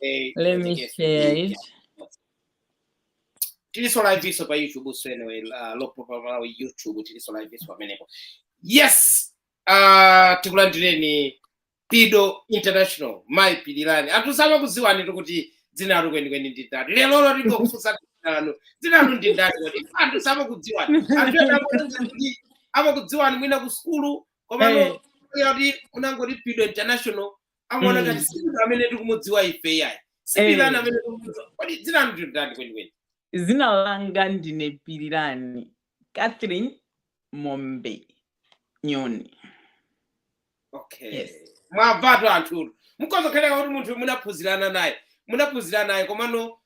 Eh, Let me yes. share it. tiliso liveso pa youtube so anyway uh, lopo pa malawi youtube tiliso liveso pamenepo yes uh, tikulandireni pido international mai pilirani anthu samakuziwanitu kuti dzina lanu kwenikweni ndi ndani lero lero tingokufunsa dzina lanu dzina lanu ndi ndani kuti anthu samakudziwani anthu ena amakudziwa kuti- amakudziwani mwina ku sukulu komano Eh. kuti unangoti pido international amaona Mm. ngati si munthu amene tikumudziwa ife iyayi si Eh. pilirani amene tikumudziwa kodi dzina lanu ndilotani kwenikweni zina langa ndine pilirani catherine mombe nyoni okay Yes. mwamvatu anthu inu mukhoza kukhaleka kuti munthu munaphunzirana naye munaphunzirana naye komano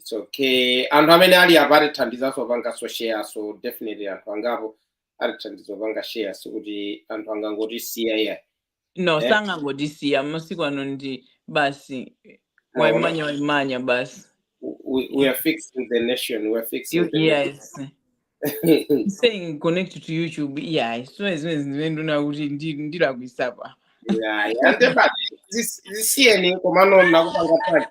It's okay anthu amene ali apa atithandizanso popanganso share so definitely anthu angapo atithandiza popanga share sikuti anthu angangotisiya iyayi no Eh? sangangotisiya masiku ano ndi basi waimanya waimanya basi we, we are fixing the nation we are fixing You- the nation. yes saying connect to youtube iyayi sizimene zimene ndikuona kuti ndi- ndilakwisa apa zisiyeni komano ndinakupanga apa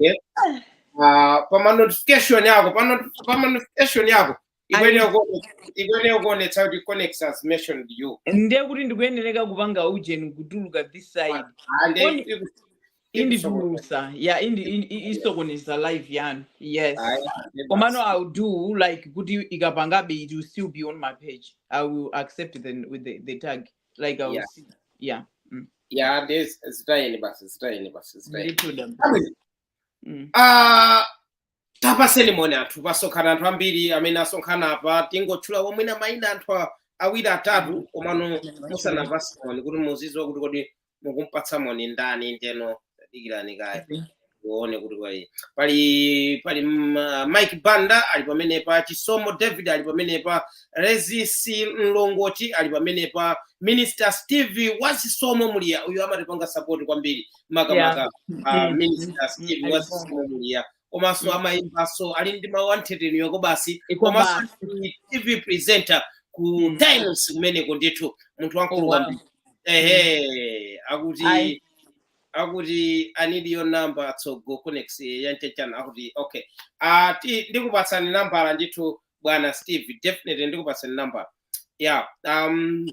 ah, pa ma notification yako pa not- pa ma notification yako ikwenera kuone- ikwenera kuonetsa kuti connect has mentioned you ndiye kuti ndikuyenereka kupanga ujeni kutuluka this side and Only- it- inditulusa ya indi, indi, isokoneza live yanu yes komano i'll do like kuti ikapangabe it will still be on my page i will accept then with the, the tag like i will yeah. see yeah mm. yeah there's zitayeni basi zitayeni basi zitayeni ndithuda mm. uh, tapaseni moni anthu pasonkhana anthu ambiri amene asonkhana apa tingotchula mwina mayina anthu a- awiri atatu komano musanapase moni kuti muzidziwa kuti kodi mukumupatsa moni ndani ndiyeno dikirani kaye uone kuti pali pali pali ma- mike banda ali pamenepa chisomo david ali pamenepa rezisi mlongoti ali pamenepa minister steve wachisomo muliya uyo amatipanga sapoti kwambiri makamaka minister steve wachisomo muliya komanso amayimbanso ali ndi mawu anthetemya kobasi komanso ndi tv presenter ku times kumeneko ndithu munthu wamkulu kwambiri ehe akuti Ayi. akuti i need your number so go connect chanchanchan akuti okay uh, ti, ndikupatsani nambala ndithu bwana steve definitely ndikupatsani nambala yeah um,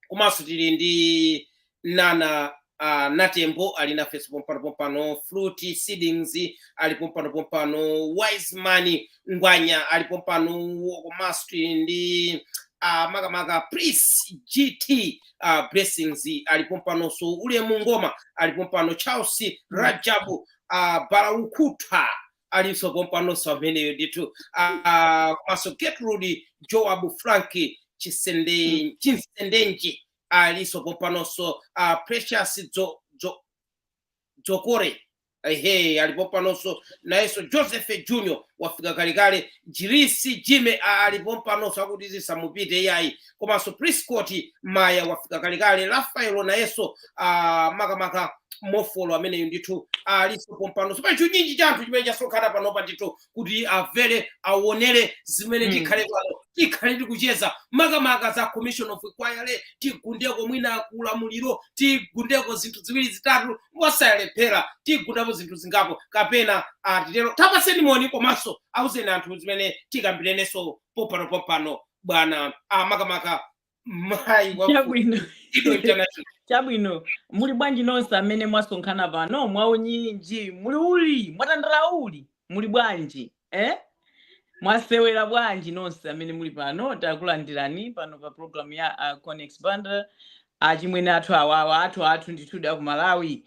komanso tili ndi nana uh, natembo ali nafenso pompano pompano fruity seedings ali pompano pompano wiseman ngwanya ali pompano komanso tili ndi uh, makamaka prince gt uh, blessings ali pompanonso ulemu ngoma ali pompano charles rajabu uh, balaukutha alinso pompanonso ameneyo ndithu Ah, komanso getrude joab franki Chisende- chinsendenji alinso pompanonso Ah, precious Jo- Jo- dzokore ehe ali pompanonso nayenso joseph junior wafika kalekale jirisi jime ali pompanonso akuti zisamupitire iyayi komanso Prescott Maya wafika kalekale Rafael nayenso uh, makamaka mofolo ameneyo ndithu alinso pompano so pali chinyinji cha anthu chimene chasonkhana panopa ndithu kuti amvere awonere zimene Mm. tikhale pano tikhala tikucheza makamaka za commission of inquiry tigundeko mwina kulamuliro tigundeko zinthu ziwiri zitatu mosalephera tigundapo zinthu zingapo kapena atitero tapaseni moni komanso auzeni anthu zimene tikambirenenso pompano pompano bwana ah, makamaka mayi wa chabwino Ido International. chabwino muli bwanji nonse amene mwasonkhana pano mwaunyinji muli uli mwatandala uli muli bwanji eh? mwasewera bwanji nonse amene muli pano takulandirani pano pa programu ya uh, Conex Banda achimwene athu awawa athu athu ndithudi aku malawi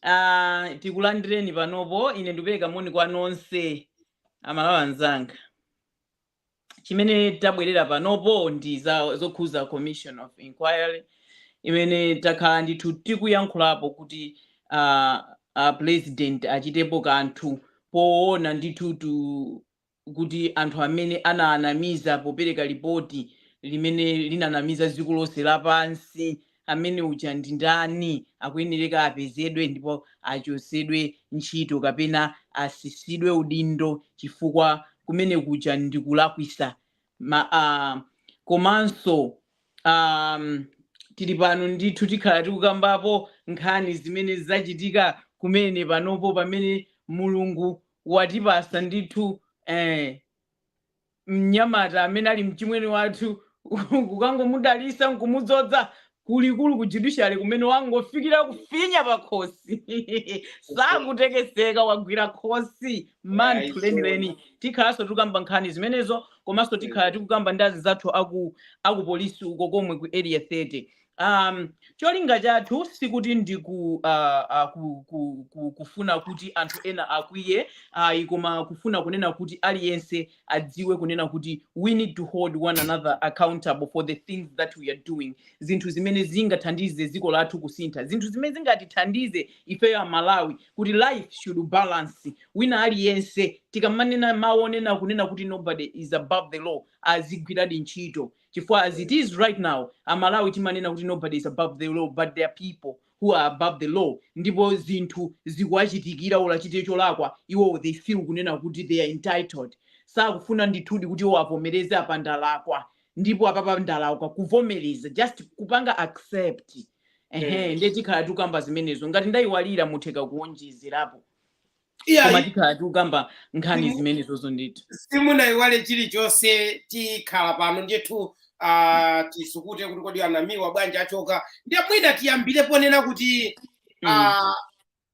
uh, tikulandireni panopo ine ndikupereka moni kwa nonse amalawi anzanga chimene tabwerera panopo ndi zokhuza commission of inquiry imene takhala ndithu tikuyankhulapo kuti uh, uh, president achitepo kanthu poona ndithutu kuti anthu amene ananamiza popereka lipoti limene linanamiza dziko lonse lapansi amene uja ndi ndani akuyenereka apezedwe ndipo achotsedwe ntchito kapena asisidwe udindo chifukwa kumene kuja ndikulakwisa Ma, uh, komanso um, tili pano ndithu tikhala tikukambapo nkhani zimene zachitika kumene panopo pamene mulungu watipasa ndithu eh, mnyamata amene ali mchimwene wathu kukangomudalisa nkumudzodza kulikulu ku judiciary kumene wangofikira kufinya pakhosi sakutekeseka wagwira khosi manthu lenileni tikhalanso tikukamba nkhani zimenezo komanso tikhala tikukamba ndi azinzathu aku polisi uko komwe ku area 30 Um, cholinga chathu sikuti ndi ku, uh, uh, ku, ku, ku, kufuna kuti anthu ena akwiye ayi, koma kufuna kunena kuti aliyense adziwe kunena kuti we need to hold one another accountable for the things that we are doing, zinthu zimene zingathandize dziko lathu kusintha, zinthu zimene zingatithandize ifeyo amalawi kuti life should balance wina aliyense tikamanena mawu onena kunena kuti nobody is above the law azigwiradi ntchito chifukwa as it is right now amalawi timanena kuti nobody is above the law but there are people who are above the law ndipo zinthu zikuwachitikira olo achite cholakwa iwowo they feel kunena kuti they are entitled sakufuna ndithudi kuti iwo avomereze apa ndalakwa ndipo apapa ndalakwa kuvomereza just kupanga accept ehe Mm. ndiye tikhala tikukamba zimenezo ngati ndayiwalira mutheka kuwonjezerapo Iya, koma tikhala tikukamba nkhani Inu- zimene izozo ndithu simunaiwale chilichonse tikhala pano ndithu ah, tisukute kuti kodi anamiwa bwanji achoka ndiye mwina tiyambire ponena kuti Mm. ah,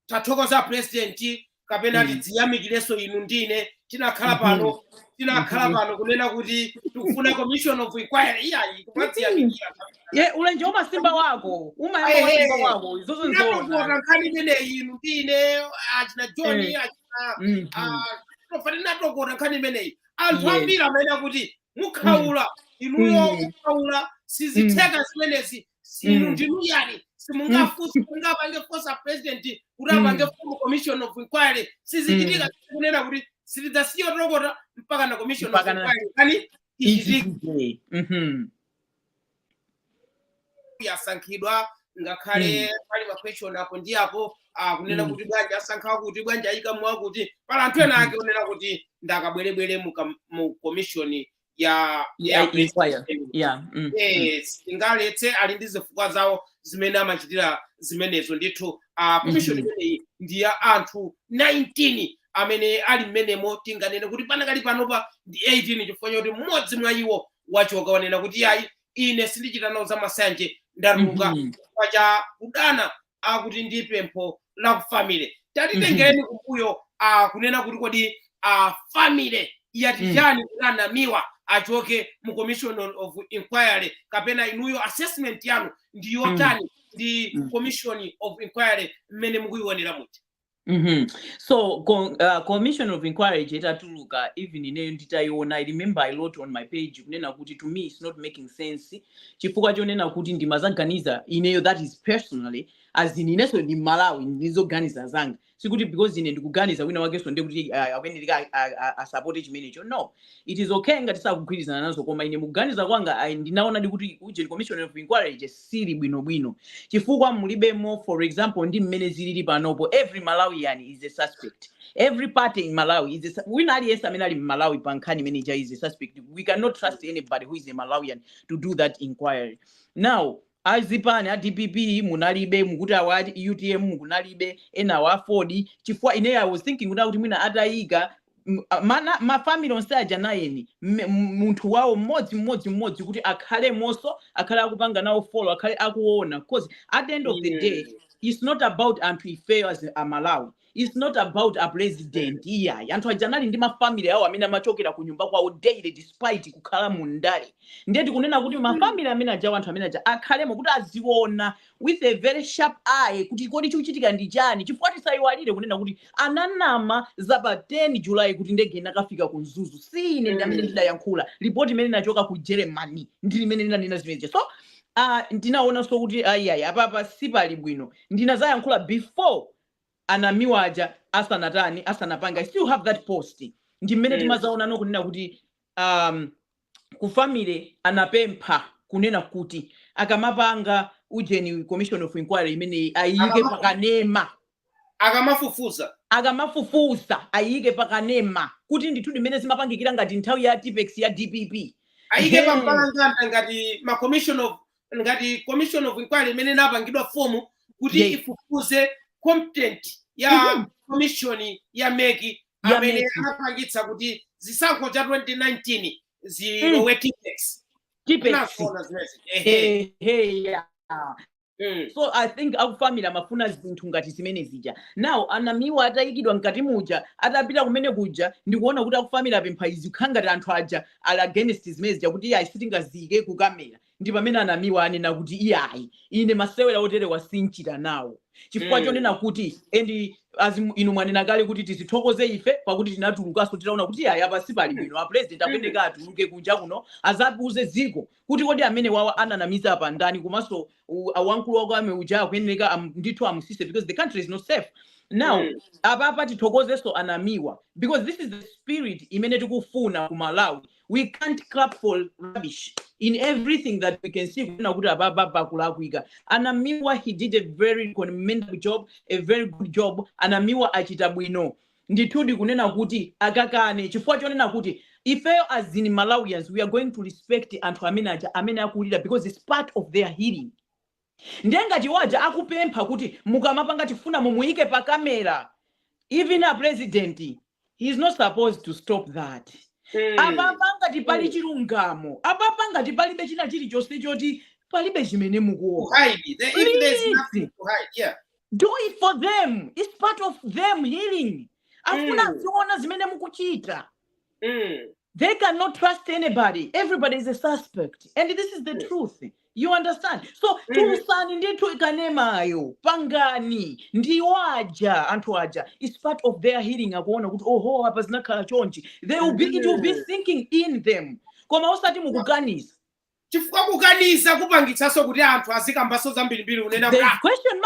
tathokoza president kapena Mm. tidziyamikireso inu ndine tinakhala Mhm. pano tinakhala Mhm. pano kunena kuti tikufuna commission of inquiry iyayi kumadziyamikira Ye, ulenje umasimba wako umayamba Ehe. wasimba wako izozo nzoona tinatokota nkhani imeneyi inu ndi ine achina john Eh. achina Mhm. ah, tofati tinatokota nkhani imeneyi anthu Yes. ambiri amanena kuti mukhaula inuyo Mm. mukhaula sizitheka zimenezi inu Mm. ndinu ndani simungafunse mungapange force a president kuti Mm. apange fumu commission of inquiry sizichitika kunena kuti sitidzasiya kutokota mpakana commission of Mpaka na- inquiry kani ichitike Ichitike. Mhm. yasankhidwa ngakhale pali maquestion apo ndi apo akunena Mm. kuti bwanji asankha akuti bwanji ayika mwakuti pali anthu ena ake onena kuti ndi akabwerebwere mu kam- mu commission ya Yeah, ya inquiry. president. Yeah. Mm. mm. Yes, ingaletse ali ndi zifukwa zawo zimene amachitira zimenezo ndithu a commission Mhm. imeneyi ndi ya anthu 19 amene ali mmenemo tinganene kuti panakali panopa ndi 18 chifukwa choti mmodzi mwa iwo wachoka wanena kuti iyayi ine sindichita nawo za masanje ndatuluka Mhm. chifukwa cha kudana akuti ndi pempho la ku family tatitengereni kumbuyo ah, kunena kuti kodi ah, family yati Mm. chani kuti anamiwa achoke mu commission of inquiry kapena inuyo assessment yanu ndi yotani ndi Mm. commission of inquiry mmene mukuyionera muti Mm -hmm. So com, uh, commission of inquiry itatuluka even ineyo nditaiona I remember I wrote on my page kunena kuti to me it's not making sense chifukwa chonena kuti ndimaganiza ineyo that is personally as in inenso ndi m'Malawi ndizoganiza zanga sikuti because ine ndikuganiza wina wakenso ndekuti uh, akuyenera asapote chimenecho no It is ok ngati sakugwirizana nazo koma ine m'kuganiza kwanga I ndinaonadi kuti ujeni commission of inquiry ija siili bwinobwino chifukwa mulibemo for example ndi mmene zilili panopo every Malawian is a suspect every party in Malawi is a, su- wina aliyense amene ali m'Malawi pa nkhani imene ija is a suspect we cannot trust anybody who is a Malawian to do that inquiry now A zipani a dpp munalibe, mukuti awa a utm kunalibe, enawa aford, chifukwa ineyo I was thinking kuti akuti mwina ataika m- a- mana ma family onse aja nayeso mme- m- munthu wawo mmodzi mmodzi mmodzi kuti akhalemonso akhale akupanga nawo follow akhale akuona cause at the end of the day Mm. it's not about anthu ifeyo as a Malawi It's not about a president iyayi. Anthu aja anali ndi mafamily awo amene amachokera ku nyumba kwawo daily despite kukhala mu ndale. Ndiye tikunena kuti mafamily amene ajawo anthu amene aja akhalemo kuti aziona with a very sharp eye kuti kodi chikuchitika ndi chani chifukwa tisayiwalire kunena kuti ananama za pa 10 July kuti ndege inakafika ku Mzuzu. Si ine ndi amene ndidayankhula. Report imene inachoka ku Germany ndi limene linanena zimenezo. So uh, ndinaonanso kuti ayiayi apapa sipali bwino ndinadzayankhula before a namiwa aja asanatani asanapange resign i still have that post ndi mmene mm. tinadzaonano kunena kuti um, ku family anapempha kunena kuti akamapanga ujeni commission of inquiry imeneyi ayike Akama- pakanema akamafufuza akamafufuza ayike pakanema kuti ndithu ndimene zimapangikira ngati nthawi ya tippex ya dpp ayike Hey. pambalambanda ngati ma commission of ngati commission of inquiry imene inapangidwa fomu kuti Yes. ifufuze conduct ya Mhm. commission ya MEC Ya amene MEC. anapangitsa kuti chisankho cha 2019 zilowe tippex Tippex. Ndi zoona zimenezi. Ehe. Ehe, ya. Mm. so i think akufamily amafuna zinthu ngati zimene zija now anamiwa atayikidwa mkati muja atapita kumene kuja ndikuona kuti akufamily apempha izi kukhala ngati anthu aja ali against zimene zija kuti ayi sitingaziyike kukamera Ndi pamene Anamiwa ananena kuti iyayi ine masewera oterewa sinchita nawo chifukwa Mm. chonena kuti and as mu- inu mwanena kale kuti tizithokoze ife pakuti tinatulukanso titaona kuti iyayi apa sipali Mm. bwino a president Mm. akuyeneka atuluke kunja kuno adzawuze dziko kuti kodi amene wawa ananamiza apa ndani komanso u- a- wamkulu wa army uja akuyeneka am- ndithu amutsitse because the country is not safe now Mm. apapa tithokozenso anamiwa because this is the spirit imene tikufuna ku malawi we can't clap for rubbish in everything that we can see kunena kuti apapa pakulakwika anamiwa he did a very commendable job a very good job anamiwa achita bwino ndithudi kunena kuti akakane chifukwa chonena kuti ifeyo as in malawians we are going to respect anthu amene aja amene akulira because it's part of their healing Ndiye ngati iwo aja akupempha kuti mukamapanga tifuna muyiyike pa camera even a president he is not supposed to stop that. Apapa ngati pali chilungamo, apapa ngati palibe china chilichonse choti palibe chimene mukuopa please do it for them it's part of them healing afuna aziona zimene mukuchita. They cannot trust anybody. Everybody is a suspect. And this is the truth. You understand? So tulutsani ndithu ikanemayo pangani ndiwo aja anthu aja is part of their healing akuona kuti oho apa zinakhala chonchi they will be, it will be sinking in them koma osati mukuganiza chifukwa kukaniza kupangitsanso kuti anthu azikambanso zambirimbiri kunena kuti ah,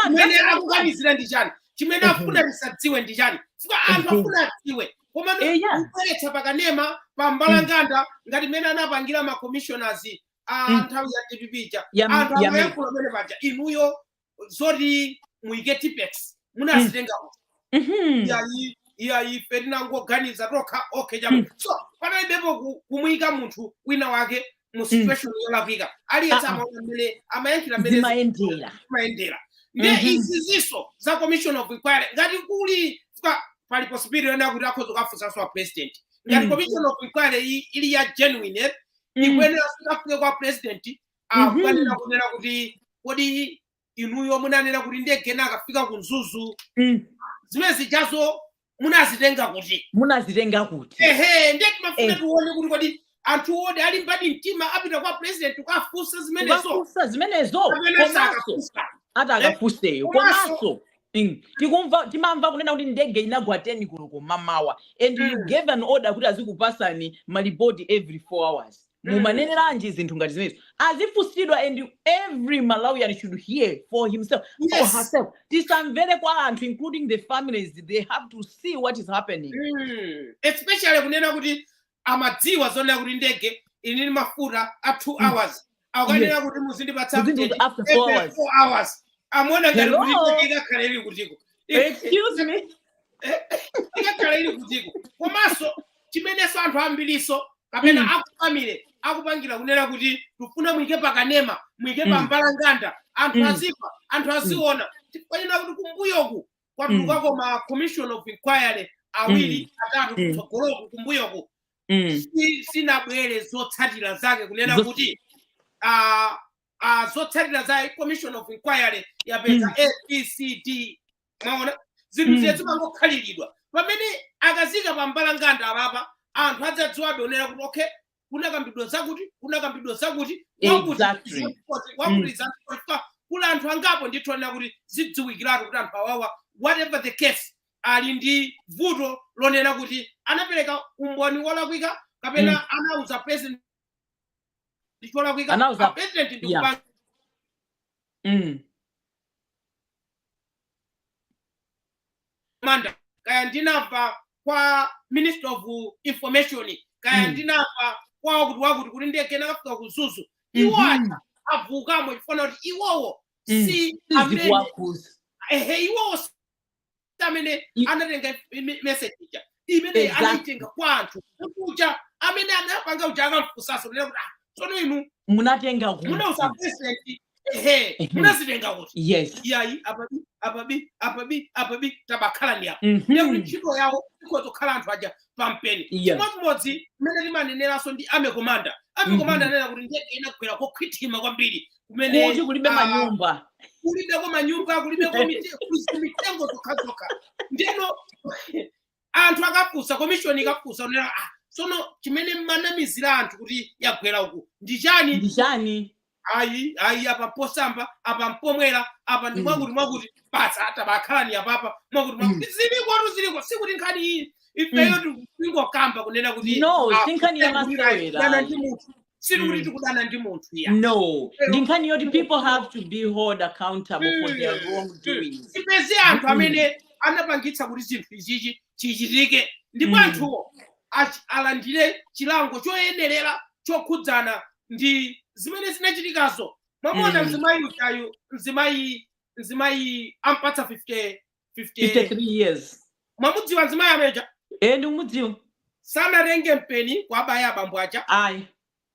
chimene akukanizira ndi chani chimene akufuna tisadziwe ndi chani chifukwa anthu afuna adziwe koma eh, kubweretsa pakanema pa mbalanganda mm. ngati mmene anapangira ma commissioners a mm. nthawi ya dpp ija anthu amayankhula mmene paja inuyo zoti muike tippex munazitenga kuti Mhm. iyayi iyayi ife tinangoganiza tokha okay chamo Mm. so panalibepo ku- kumuyika munthu wina wake mu situation yolakwika aliyense Ah, ah. amaona mmene amayankhira mmene zimayendera zimayendera ndiye Mhm. izi zizi za commission of inquiry ngati kuli kwa- pali possibility yonena kuti akhoza kukafunsanso a president ngati Mm. commission of inquiry iyi ili ya genuine eh, Mm. ikuyenera ikafike kwa president akukanene kunena kuti kodi inuyo munanena kuti ndege inakafika ku mzuzu Mm. zimene zijazo munazitenga kuti munazitenga kuti ehe ndiye timafuna Eh. tione kuti kodi anthu oti alimbadi mtima apita kwa president kukafunsa zimenezo kukafunsa zimenezo kapena komanso sakafunsa ati akafunse iyo Komanso- komanso mm, tikumva timamva kunena kuti ndege inagwa 10 koloko mamawa and you Mm. gave an order kuti azikupasani malipoti every 4 hours Mm. mumaneneranji zinthu ngati zimenezo azifunsidwa and every malawian should hear for himself or Yes. herself tisamvere kwa anthu including the families they have to see what is happening Mm. especially kunena kuti amadziwa zonena kuti ndege inali ndi mafuta a two Mm. hours akukanenanso kuti muzindipatsa Within update the- after four every hours four hours amaona ngati Hello? kuti ndege ikakhala ili kutiko excuse me ikakhala ili kutiko komanso chimenenso anthu ambiriso kapena Mm. akufamile akupangira kunena kuti tikufuna muike pakanema muike Mm. pambalanganda anthu Mm. azimva anthu aziona tikunena kuti kumbuyoku kwatulukako ma commission of inquiry awiri atatu Mm. kutsogoloku kumbuyoku Mm. si- sinabwere zotsatira zake kunena Zo- kuti ah, uh, zotsatira za commission of inquiry yapeza mm. abcd mwaona zinthu mm. ziye zimangokhaliridwa pamene akaziika pa mbalanganda apapa anthu adzadziwa adzaonera kuti okay kunakambidwa zakuti kunakambidwa zakuti Exactly. wakuliza mm. kuli anthu angapo ndithu anena kuti zidziwikiratu kuti anthu awawa whatever the case ali ndi vuto lonena kuti anapereka umboni wolakwika kapena anauza president zinthu zolakwika Anauza- a president ndi Yeah. kupanga Mm. manda kaya ndinamva kwa minister of information kaya Mm. ndinamva kwa wakuti wakuti kuti ndege inakafika ku mzuzu iwo Mhm. aja achokamo chifukwa kuti iwowo Mm. si amene Sizikuwakhuza. ehe iwowo si amene anatenga message ija imene Exactly. anaitenga kwa anthu kuja amene anapanga uja akafunsaso kunena kuti "Ah, tsono inu munatenga kuti munauza president ehe Mhm. munazitenga kuti yes iyayi apapa apapa apapa apapa tabakhalani apo Mhm. ndiye kuti ntchito yawo izakhala anthu aja pampheni Yes. chimodzimodzi mmene timaneneranso ndi army commander army Mhm. commander anena kuti ndege inagwera kokhwithima kwambiri kumene kuti kulibe ah, manyumba kulibeko manyumba kulibeko mite- kuzi- mitengo zokhazokha ndeno anthu akafusa komishoni ikafusa kunena ah, sono chimene munanamizira anthu kuti yagwera uku ndi chani ndi chani ayi ayi apa posamba apa mpomwera apa ndi Mm. mwakuti mwakuti basi tabakhalani apapa mwakuti mwakuti zilikotu ziliko sikuti nkhani iyi ifeyo tikungokamba kunena kuti no ah, sinkhani ya kuti tikulimbana ndi munthu sikuti Mm. tikudana ndi munthu ya no Pero- ndi nkhani yoti people have to be hold accountable for their Mm. wrongdoings tipeze anthu Mm. amene anapangitsa kuti zinthu ichichi chichitike ndipo Mm. anthuwo achi- alandire chilango choyenerera chokhudzana ndi zimene zinachitikazo mwamona Mm. mzimayi ujayu mzimayi mzimayi ampatsa 50 50 53 years mwamudziwa mzimayi amene uja e ndikumudziwa sanatenge mpeni kwabaya abambo aja ayi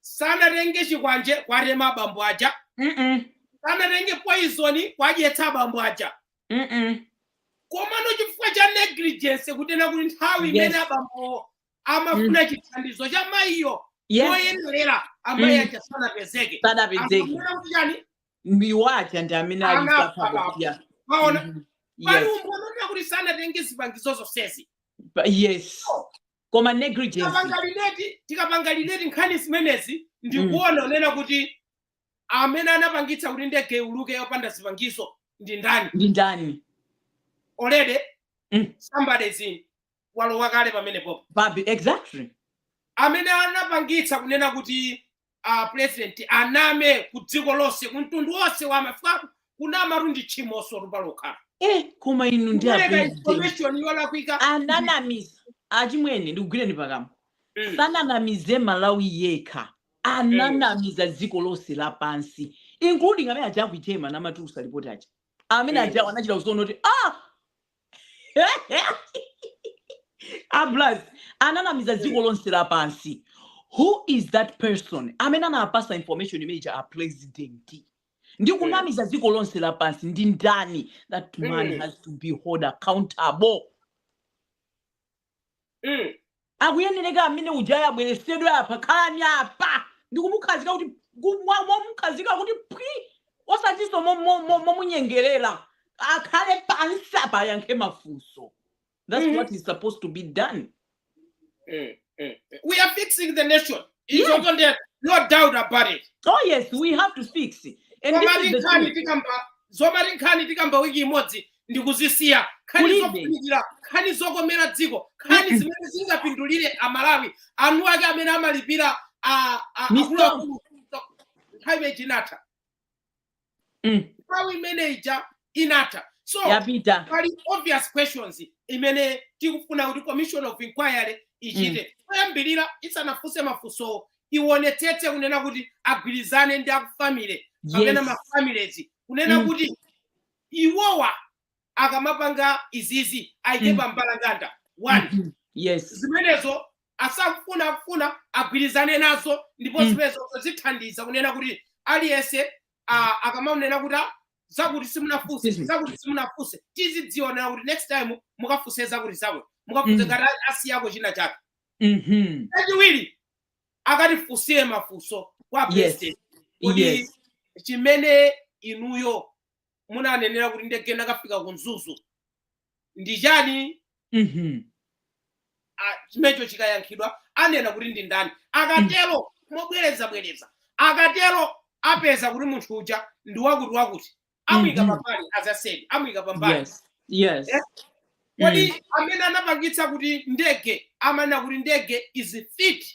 sanatenge chikwanje kwatema abambo aja Mm-mm. sanatenge poizoni kwadyetsa abambo aja Mm-mm. komano chifukwa cha negligence kutena kuti nthawi Yes. imene abambo amafuna chithandizo cha mayiyo yes yoyenerera amayi Mm. aja sanapezeke sadapezeke Amafuna kuti chani iwo aja ndi amene ali Ana mpaka palapo. kudya maona Mhm. pali Yes. umboni onena kuti sanatenge zipangizo zonsezi Pa- yes koma negligence tikapanga relate tikapanga relate nkhani zimenezi ndikuona kunena kuti amene anapangitsa kuti ndege iuluke yopanda zipangizo ndi ndani ndi ndani already Mm. somebody is in walowa kale pamenepopa exactly amene anapangitsa kunena kuti a president aname ku dziko lonse ku mtundu wonse wa mafikapo kunamatu ndi tchimoso palokha eh koma inu ndiye kupereka president information yolakwika ananamiza achimwene ndikugwireni pakamwa Mm. sananamize malawi yekha ananamiza dziko lonse lapansi including amene aja aku ICAO amatulusa lipoti aja amene Mm. aja anachita kuziona kuti ah ablas ananamiza dziko lonse lapansi who is that person amene anapasa information imeneyi a president ndi mm. kunamiza dziko lonse lapansi ndi ndani that man mm. has to be hold accountable Mm. akuyenereka amene ujayi abweresedwe apa khalani apa ndikumukhazika kuti ku- mwa- mwamukhazika kuti pwi osatinso mo- mo- mo- momunyengerera akhale pansi apa ayankhe mafunso that's Mhm. what is supposed to be done Mm. Mm. We are fixing the nation. It's Yes. open there. No doubt about it. oh yes we have to fix it. and this is the Zomayinkhani truth. tikamba Zomayinkhani tikamba wiki imodzi ndikuzisiya nkhani Kulibe. zofunikira nkhani zokomera dziko nkhani zimene zingapindulire amalawi eni ake amene amalipira a- a- Misonkho. akuluakulu nthawi imene inatha Mm. nthawi imene ija inatha so yapita pali obvious questions imene tikufuna kuti commission of inquiry ichite choyambirira isanafunse mafunsowo ionetsetse kunena kuti agwirizane ndi akufamily kapena yes mafamilies kunena Mm. kuti iwowa akamapanga izizi aike pa mbalambanda one zimenezo asafuna kufuna agwirizane nazo ndipo zimenezo zithandiza kunena kuti aliyense akamanena kuti zakuti simunafunse zakuti simunafunse tizidzionera kuti next time mukafunse zakuti zakuti mukafunse ngati asiyako china chake chachiwiri akatifunsire mafunso kwa president kuti chimene inuyo munanenera kuti ndege inakafika ku mzuzu ndi chani Mhm. ah, chimenecho chikayankhidwa anena kuti ndi ndani akatero mobwereza bwereza akatero apeza kuti munthu uja ndi wakuti wakuti amuyika Mhm. pambali azaside amuyika pambali Yes. Yes. Eh? kodi amene anapangitsa kuti ndege amanena kuti ndege is fit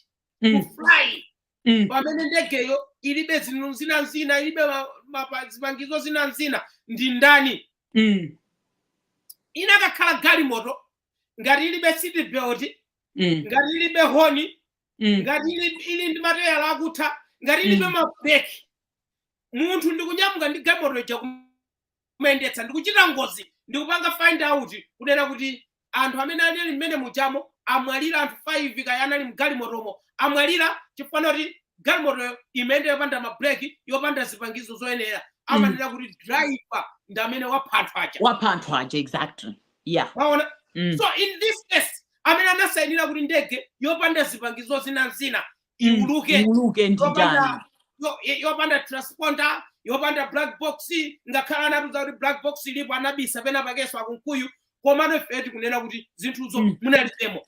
to Mm. fly Mm. pamene ndegeyo ilibe zinthu zina zina ilibe ma- mapa- zipangizo zina zina ndi ndani Mm. inakakhala galimoto ngati ilibe seat belt Mm. ngati ilibe honi Mm. ngati ili, ili ndi mateyala akutha ngati ilibe Mm. mabreki munthu ndikunyamuka ndi galimoto ija kum- kumayendetsa ndikuchita ngozi ndikupanga find out kunena kuti anthu amene anali mmenemujamo amwalira anthu 5 kaya anali mgalimotomo amwalira chifukwa choti galimotoyo imayenda yopanda mabreki yopanda zipangizo zoyenera amanena kuti driver ndi amene wapha anthu aja wapha anthu aja exactly yeah waona mm. so in this case amene anasayinira kuti ndege yopanda zipangizo zina zina iuluke iuluke ndi ndani yopanda yo- yo- yopanda transponder yopanda black box ngakhale anatiuza kuti black box ilipo anabisa pena pakeso akunkuyu komano ife tikunena kuti zinthuzo Mm. munalibemo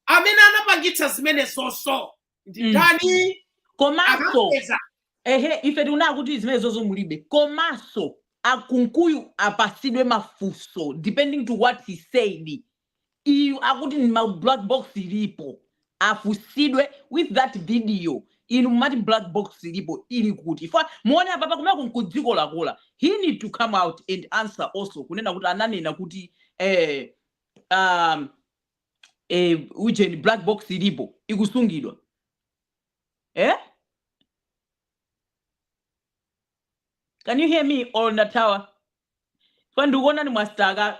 amene anapangitsa zimenezoso ndi Mm. ndani komanso akapeza ehe ife tikunena kuti zimenezozo mulibe komanso akunkuyu apasidwe mafunso depending to what he said Iyu akuti ndi ma black box ilipo afusidwe with that video inu mumati black box ilipo ili kuti chifukwa muwone apapa kumene kuja nkudziko lakula he need to come out and answer also kunena kuti ananena kuti eh, um, eh, ujeni black box ilipo ikusungidwa eh? can you hear me or ndathawa chifukwa ndikuonani mwasitaka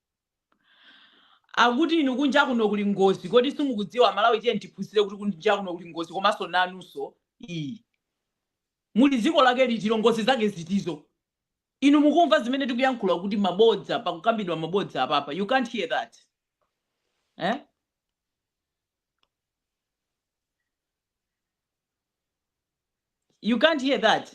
Akuti inu kunja kuno kuli ngozi kodi simukudziwa amalawi tiyeni tiphunzire kuti kunja kuno kuli ngozi komanso nanunso iyi muli dziko lake litilo ngozi zake zitizo inu mukumva zimene tikuyankhula kuti mabodza pakukambidwa mabodza apapa you can't hear that eh? you can't hear that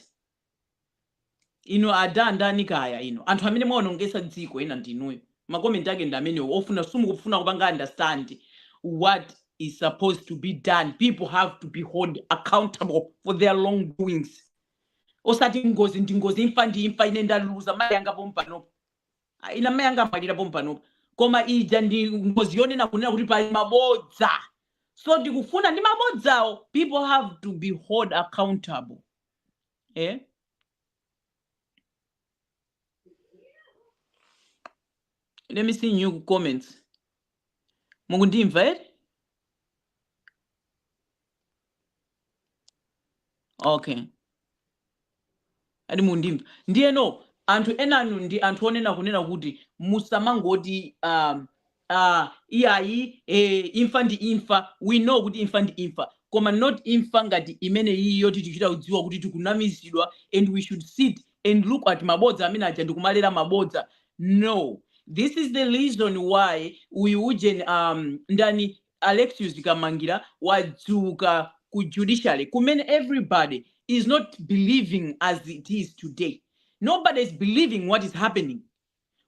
inu ada ndani kaya inu anthu amene mwaonongesa dziko ena ndinuyo makomenti ake ndi amenewo ofuna simukufuna kupanga understand what is supposed to be done people have to be hold accountable for their wrong doings osati ngozi ndi ngozi imfa ndi imfa ine ndaluza mayi anga pompanopo Ah, ine amai anga amwalira pompanopa koma ija ndi ngozi yonena kunena kuti pali mabodza so tikufuna ndi mabodzawo people have to be hold accountable eh? let me see new comments mukundimva eti okay ati mukundimva ndiye no anthu enanu ndi anthu onena kunena kuti musamangoti um, uh, iyayi eh, imfa ndi imfa we know kuti imfa ndi imfa koma not imfa ngati imene iyi yoti tichita kudziwa kuti tikunamizidwa and we should sit and look at mabodza amene aja ndikumalera mabodza no this is the reason why uyu ujeni um, ndani Alexious Kamangila wadzuka ku judiciary kumene everybody is not believing as it is today. Nobody is believing what is happening.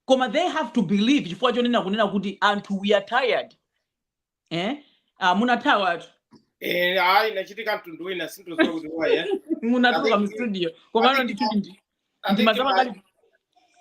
Koma they have to believe chifukwa chonena kunena kuti anthu we are tired. Eh? Ah, munathawa athu. Eh, ayi zachitika mtundu wina sindidziwa kuti waye. Munatuluka mu studio. Komano ndithu ndi. ndimazama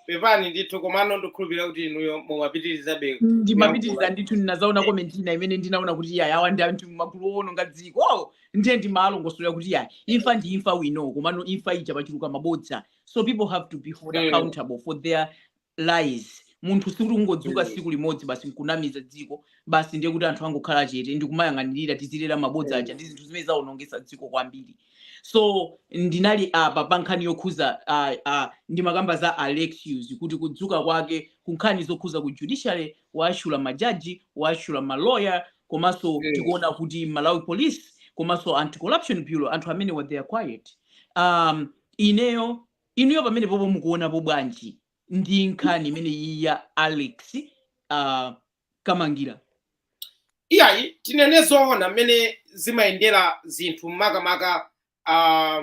pepani ndithu komano ndikhulupirira kuti inuyo mumapitirizabe ndimapitiriza ndithu ndinadzaona komenti ina imene ndinaona kuti yayi awa ndi anthu magulu owononga dziko oh, ndiye ndimalongosolera kuti yayi imfa ndi imfa we know komano imfa ija pachuluka mabodza so people have to be held Mm. accountable for their lies munthu sikuti kungodzuka mm. siku limodzi basi nkunamiza dziko basi ndiye kuti anthu angokhala chete ndikumayang'anirira tizilera mabodza mm. aja ndi zinthu zimene zaonongetsa dziko kwambiri so ndinali apa pa nkhani yokhuza uh, uh, ndimakamba za alexius kuti kudzuka kwake ku nkhani zokhuza ku judiciary waashula majaji waashula maloya komanso mm. tikuona kuti malawi police komanso anti corruption bureau anthu amene wa they are quiet um, ineyo Inuyo pamenepopo mukuonapo bwanji ndi nkhani imeneyi ya Alex uh, Kamangila? iyayi tinene zoona mmene zimayendera zinthu makamaka ah,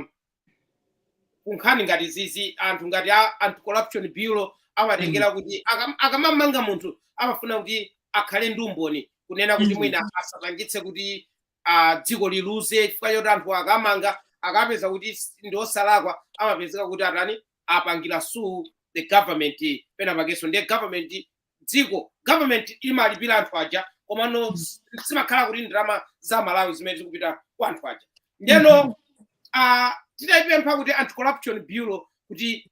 kunkhani ngati zizi anthu ngati a anti corruption bureau amatengera kuti akam- akamamanga munthu amafuna kuti akhale ndi umboni kunena kuti Mm. mwina asapangitse kuti ah, dziko liluze chifukwa choti anthu akamanga akapeza kuti s- ndi osalakwa amapezeka kuti atani apangira sue the government pena pakenso ndiye government dziko government imalipira anthu aja komano s- zimakhala kuti ndalama za malawi zimene zikupita kwa anthu aja ndeno ah, titayipempha kuti anti corruption bureau kuti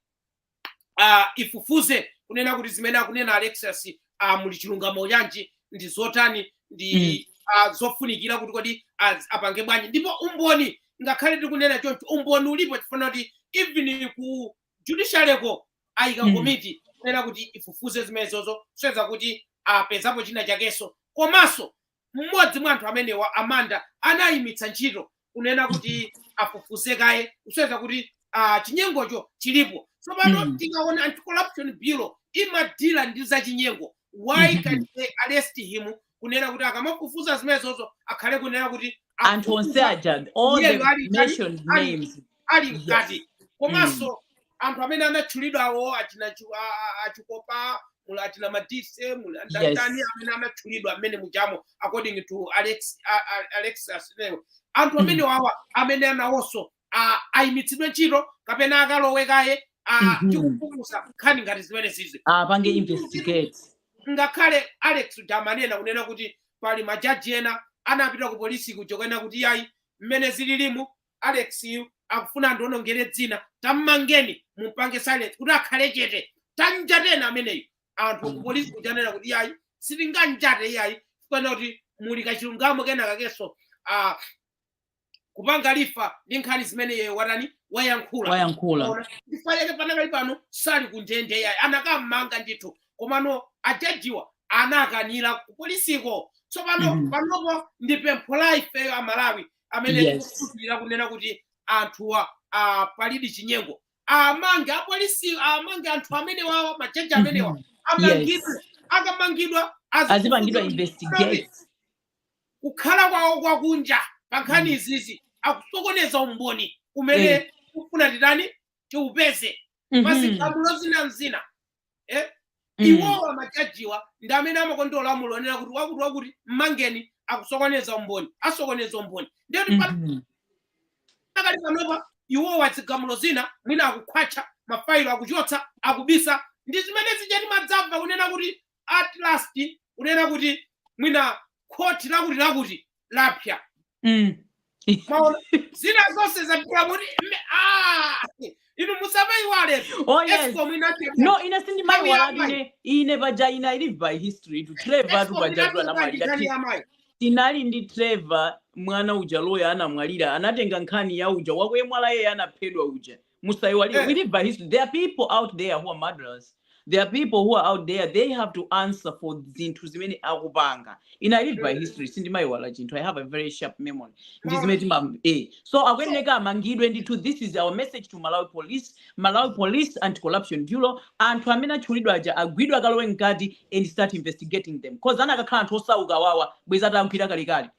uh, ifufuze kunena kuti zimene akunena alexius uh, muli chilungamo chanji ndi zotani ndi mm. uh, zofunikira kuti kodi apange bwanji ndipo umboni ngakhale tikunena choncho umboni ulipo chifukwa kuti even ku judiciaryko ayika mm. komiti kunena kuti ifufuze zimenezozo kusonyeza kuti apezapo china chakenso komanso mmodzi mwa anthu amenewa a Manda anayimitsa ntchito kunena kuti afufuze kaye kusonyeza kuti ah, chinyengocho chilipo tsopano Mm. tikaona anti corruption bureau imadila ndi zachinyengo why Mhm. can they arrest him kunena kuti akamafufuza zimenezozo akhale kunena kuti anthu onse afufuza aja all Iyeyo the ali ndani? mentioned Ali- names ali mkati komanso anthu amene anatchulidwawo achina Chu- a- a- a Chikopa muli achina Madise muli andatani Yes. amene anatchulidwa amene mujamo according to alex a- a- alexas leo anthu Mm. amene wawa amene anawonso a- ayimitsidwe ntchito kapena akalowe kaye a- Mhm. tikufufuza nkhani ngati zimene zizi apange investigate ngakhale alex uja amanena kunena kuti pali majaji ena anapita ku polisi kuja kunena kuti yayi mmene zililimu Alex yu akufuna andionongere dzina tammangeni mumpange silence kuti akhale chete tanjateni ameneyu anthu ku polisi kuja anena kuti iyayi sitinganjate iyayi chifukwa kuti muli kachilungamo kena kakenso ah, kupanga refer ndi nkhani zimene iye watani wayankhula wayankhula Ona, chifukwa chake panakali pano sali kundende yayi akanammanga ndithu komano ajajiwa anakanira kupolisiko tsopano Mhm. panopo ndi pempho la ifeyo amalawi amene Yes. tikukhulupirira kunena kuti anthuwa ah, palidi chinyengo amange apolisi amange anthu amenewa majaji amenewa Mhm. amangidwe Yes. akamangidwa azipangidwa investigate kukhala kwawo kwakunja pa nkhani Mm. izizi akusokoneza umboni umene Eh. kufuna titani tiupeze Mhm. mazikhamulo zina mzina eh? mm. iwowa majajiwa ndi amene amakonda lamulo onena kuti wakuti wakuti mmangeni akusokoneza umboni asokoneza umboni ndiye kuti mm -hmm. pakadali panopa iwowa zigamulo zina mwina akukhwatcha mafailo akuchotsa akubisa ndi zimene zija timadzamva kunena kuti at last kunena kuti mwina khoti lakuti lakuti lapsa Mm. Maona, zina zonse zapita kuti me- ah, inu musamaiwale Oh, yes. escom inachita no ine sindimaiwala Nthawi ya ine ine paja I live by history to trevor escom paja inachita namwalira nditani Ti- amayi tinali ndi trevor mwana uja loya anamwalira anatenga nkhani ya uja wakwemwala yeye anaphedwa uja musaiwalire eh. we live by history there are people out there who are murderers there are people who are out there they have to answer for zinthu zimene akupanga ine i live by eh. history sindimaiwala chinthu i have a very sharp memory ndi zimene tima eh. so akuyeneka amangidwe ndithu this is our message to malawi police malawi police anti corruption bureau anthu amene atchulidwa aja agwidwa akalowe mkati and start investigating them cause anakakhala anthu osaukawa bwenzi atagwidwa kalekale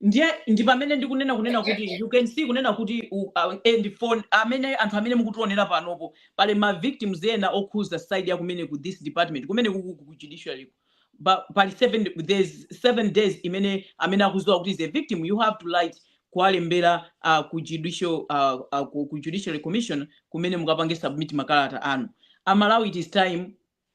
ndiye ndi pamene ndikunena kunena kuti you can see kunena kuti u- uh, and for amene anthu amene mukutionera panopo pali ma victims ena okhuza side ya kumene ku this department kumene ku, ku, ku judiciary ku. Ba- pali seven there's seven days imene aliyense amene akuziwa kuti he is a victim you have to write kuwalembera uh, ku judicial uh, uh, ku, ku judiciary commission kumene mukapange submit makalata anu amalawi it is time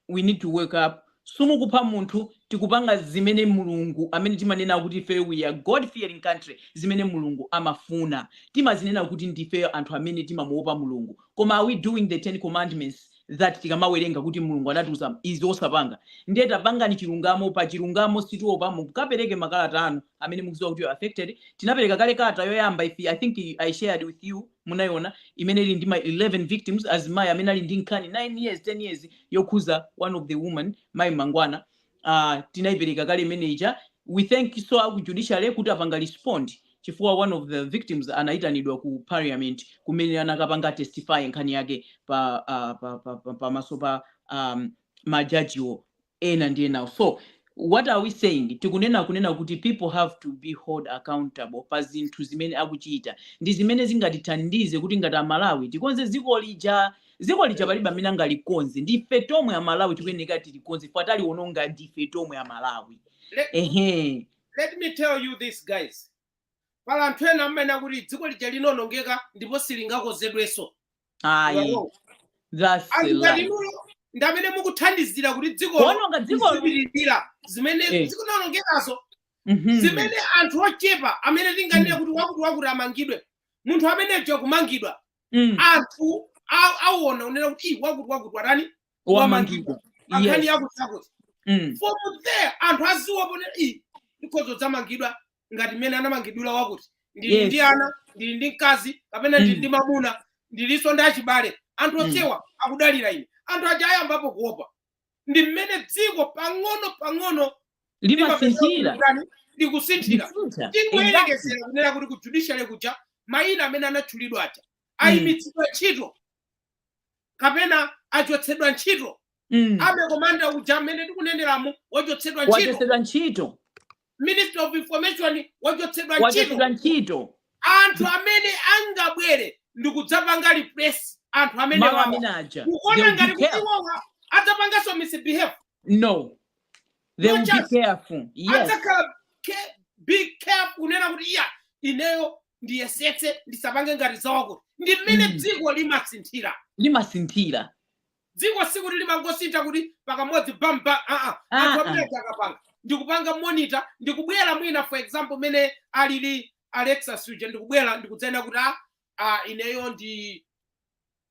we need to wake up simukupha munthu tikupanga zimene mulungu amene timanena kuti ifeyo we are god fearing country zimene mulungu amafuna timazinena kuti ndifeyo anthu amene timamuopa mulungu koma are we doing the ten commandments that tikamawerenga kuti mulungu anatiuza izi osapanga ndiye tapangani chilungamo pa chilungamo sitiopa mulungu kapereke makalata anu amene mukuziwa kuti you are affected tinapereka kale kalata yoyamba i i think i shared with you munaiona imene ili ndi ma 11 victims azimayi amene ali ndi nkhani 9 years 10 years yokhuza one of the woman mayi mangwana uh, tinaipereka kale imene ija we thank so aku judiciary kuti apanga respond chifukwa one of the victims anaitanidwa ku parliament kumene anakapanga testify nkhani yake pa uh, pa, pa, pa, pamaso pa um, majajiwo ena ndi enawo so what are we saying tikunena kunena kuti people have to be hold accountable pa zinthu zimene akuchita ndi zimene zingatithandize kuti ngati amalawi tikonze dziko lija dziko lija palibe amene angalikonze ndi ife tomwe amalawi tikuyeneka tilikonze chifukwa taliwononga ndi ife tomwe amalawi let, ehe let me tell you this guys pali anthu ena amanena kuti dziko lija linaonongeka ndipo silingakonzedwenso ayi Wow. that's the anthu life ngati inuyo ndi amene mukuthandizira kuti dzikolo kuononga dzikolo zipitirire zimene Eh. zikuonongekazo Mhm. zimene anthu ochepa amene tinganene kuti wakuti wakuti amangidwe munthu ameneyo kumangidwa Mm. anthu a- awona kunena kuti "Ih, wakuti wakuti watani wamangidwa nkhani yes yakuti yakuti Mm. from there anthu aziwopa kunena iyi ndikhoza kudzamangidwa ngati mmene anamangidwira wakuti ndili Yes. ndi ana ndili ndi mkazi kapena ndili Mm. ndi mamuna ndilinso ndi achibale anthu Mm. onsewa akudalira ine anthu aja ayambapo kuopa ndi mmene dziko pang'ono pang'ono limasinthira limatani likusinthira Likusintha. Exactly. tingoyerekezera kunena kuti ku judiciary kuja mayina amene anatchulidwa aja ayimitsidwa ntchito kapena achotsedwa ntchito mm. army commander uja mmene tikuneneramu wachotsedwa ntchito wachotsedwa ntchito ministry of information wachotsedwa ntchito wachotsedwa ntchito anthu amene angabwere ndikudzapanga replace anthu amene Mama wawa. amene aja They kuona will be ngati kuti careful. iwowa adzapanganso misbehave no they will be Muchas- careful yes adzakhala ke- be careful kunena kuti iya ineyo ndiyesetse ndisapange ngati za wakuti ndi mmene Mm. dziko limasinthira limasinthira dziko sikuti limangosintha kuti pakamodzi bamba aa Ah, anthu ah. amene akapanga ndikupanga monitor ndikubwera mwina for example mene alili alexius uja ndikubwera ndikudzanena kuti a a ineyo ndi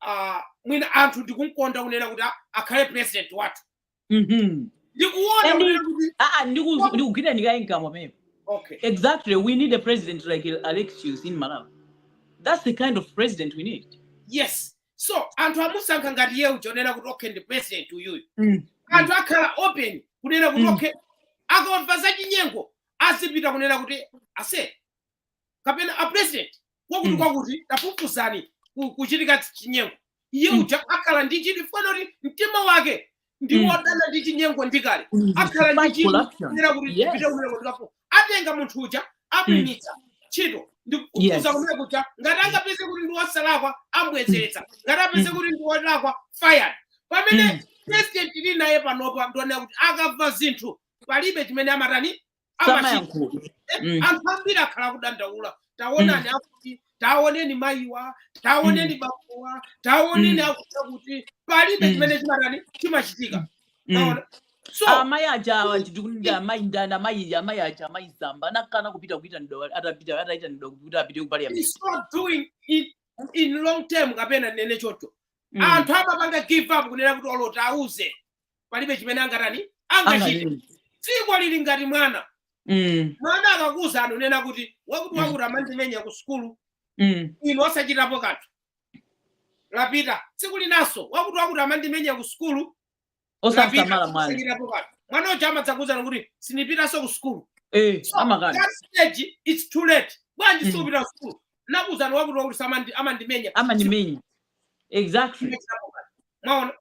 ah, mwina anthu ndikumkonda kunena kuti ah, akhale president wathu Mhm. ndikuona Eni- kunena kuti Ah, ah, ndiku- ndikugwira ndikayi mkamwa pamenepo okay exactly we need a president like alexius in malawi that's the kind of president we need yes so anthu amusankha ngati iye uja onena kuti okay ndi president uyuyu Mm. anthu akhala open kunena kuti Mm. okay akamva zachinyengo azipita kunena kuti ase kapena a president kwakuti mm. kwakuti tafufuzani kuchitika chinyengo iye mm. uja akhala ndi chidwi chifukwa kuti mtima wake ndi mm. wodana ndi chinyengo ndikale mm. akhala ndi chidwi kuti tipite kumene kutikafu atenga munthu uja amuimitsa ntchito ndikukuza kumene kuja ngati angapeze kuti ndi wosalakwa ambwezeretsa ngati apeze kuti ndi wolakwa fired pamene president tili naye panopa ndi wonena kuti akamva zinthu palibe chimene amatani amachita samayankhula Eh, Mm. anthu ambiri akhala akudandaula taonani akuti taoneni mayiwa taoneni bakuwa taoneni Mm. akuti kuti palibe Mm. chimene chimatani chimachitika Mm. Taona? so amayi aja awa ndikuti amayi ndani amayi amayi aja amayi Zamba anakana kupita kuitanidwa atapita ataitanidwa kuti apite ku parliament it's not doing it in long term kapena ndinene choncho Mm. anthu amapanga give up kunena kuti olo tawauze palibe chimene angatani angachite Anganene. dziko lili ngati mwana Mm, mwana akakuuzani kunena kuti wakuti Mm. wakuti amandimenya ku sukulu mm, inu osachitapo kanthu wapita tsiku linanso wakuti wakuti amandimenya ku sukulu osamsamala mwana osachitapo kanthu mwana uja amadzakuuzani kuti sindipitanso ku sukulu Eh, So, amakana that stage it's too late bwanji Mm. sukupita ku sukulu ndinakuuzani wakuti wakuti samandi- amandimenya amandimenya exactly Simunachitepo kanthu. mwaona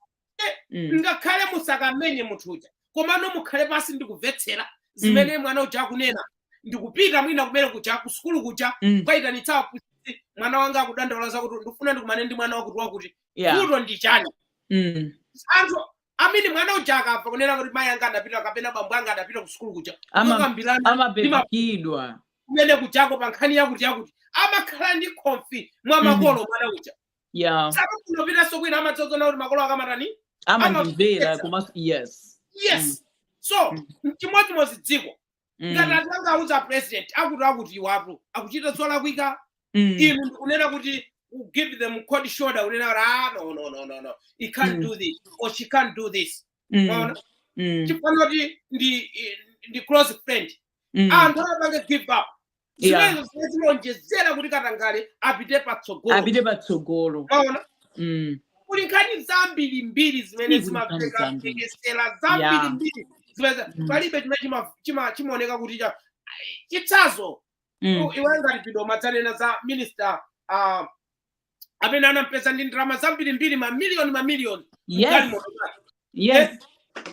mm. ngakhale musakamenye munthu uja komano mukhale pansi ndikumvetsera zimene mm. mwana uja akunena ndikupita mwina kumene kuja kusukulu kuja mm. kukayitanitsa aphunzitsi mwana wanga akudandaula zakuti ndikufuna ndikumane ndi mwana wakuti wakuti yeah. kuto ndi chani mm. anthuni mmene mwana uja akamva kunena kuti mayi anga adapita kapena bambo anga adapita kusukulu kuja anapezekadi kumene kujako pa nkhani yakuti yakuti amakhala ndi konfi mwa mm. makolo mwana uja yeah sakafuna kupitanso kwina amadzaona kuti makolo anga amatani amandimvera komanso yes yes so chimodzimodzi dziko Mm, ngati anthu anga auza president akutiakuti awa akuchita zolakwika mm, inu ndikunena kuti you give them cold shoulder kunena kuti ah no no no no no he can't Mm. do this or she can't do this mm, Mwaona? mm, chifukwa kuti ndi close friend mm, anthu amapanga give up Yeah. zimenezo zimene zimaonjezera kuti katangale apite patsogolo apite patsogolo mwaona Mm. kuli nkhani zambiri mbiri zimene Kuli nkhani zimapeka zambiri. tekesera zambiri Yeah. mbiri zimene Mm. palibe chimene chima- chima- chimaoneka kuti cha chitsazo Mm. iwe ngati pijapa umanena za minister ah, amene anampeza ndi ndalama zambiri mbiri mamiliyoni mamiliyoni yes Galimoto zake. yes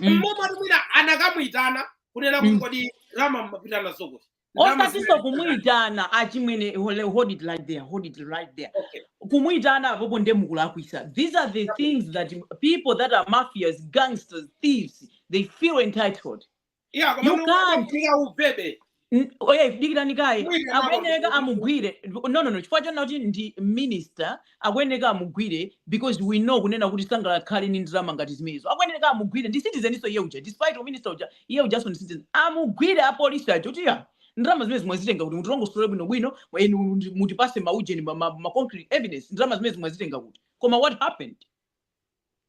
Mm. mmene atamuona anakamuyitana kunena kuti Mm. kodi ndalama mumapita nazo kuti osatiso kumuitana achimwene hold it right there hold it right there okay. kumuitana apopo nde mukulakwisa these are the things that people that are mafias gangsters thieves they feel entitled yeah, you can't ubebe oye dikirani kaye akuyeneka amugwire no no no chifukwa chona kuti ndi minister Akuyeneka amugwire because we know kunena kuti sangakakhale ndi ndalama ngati zimenezo. Akuyeneka amugwire ndi citizeninso iye uja despite u minister uja iye ujanso ndi citizen. Amugwire a police aja kuti ah ndalama zimenezi mwazitenga kuti mutilongosole bwino bwino and muti- mutipatse ma ujeni ma, ma, ma concrete evidence ndalama zimenezi mwazitenga kuti. Koma what happened?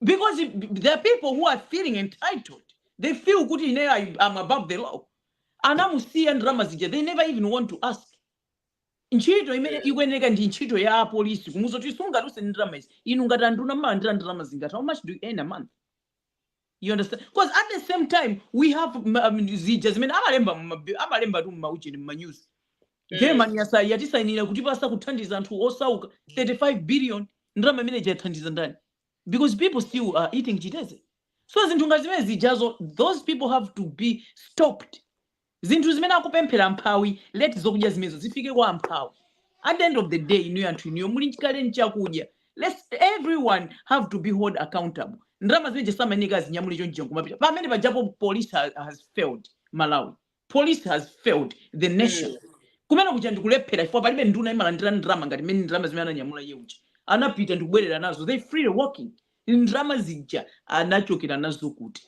because it- b- they are people who are feeling entitled they feel kuti ineyo I- i'm above the law anamusiya ndalama zija they never even want to ask ntchito imene ikuyeneka ndi ntchito ya apolisi kumuuza zoti sunga use ndalama izi inu ngati anduna mumalandira ndalama zingati how much do you earn a month you understand because at the same time we have ma- um, zija zimene amalemba mma- amalemba tu mmaucheni mmanews germany yasa- yatisainira kutipatsa kuthandiza anthu osauka 35 billion ndalama imene ija yathandiza ndani because people still are eating chiteze so zinthu ngati zimene zijazo those people have to be stopped Zinthu zimene akupemphera amphawi let zokudya zimenezo zifike kwa amphawi at the end of the day inuyo anthu inuyo muli kale nchakudya let everyone have to be hold accountable ndalama zimene zija samayenera azinyamule chonchija nkumapita pamene pajapo police has, has failed malawi police has failed the nation Mm. kumene kuja ndikulephera chifukwa palibe nduna imalandira ndalama ngati mmene ndalama zimene ananyamula iye uja anapita ndikubwerera nazo they freely walking ndalama zija anachokera nazo kuti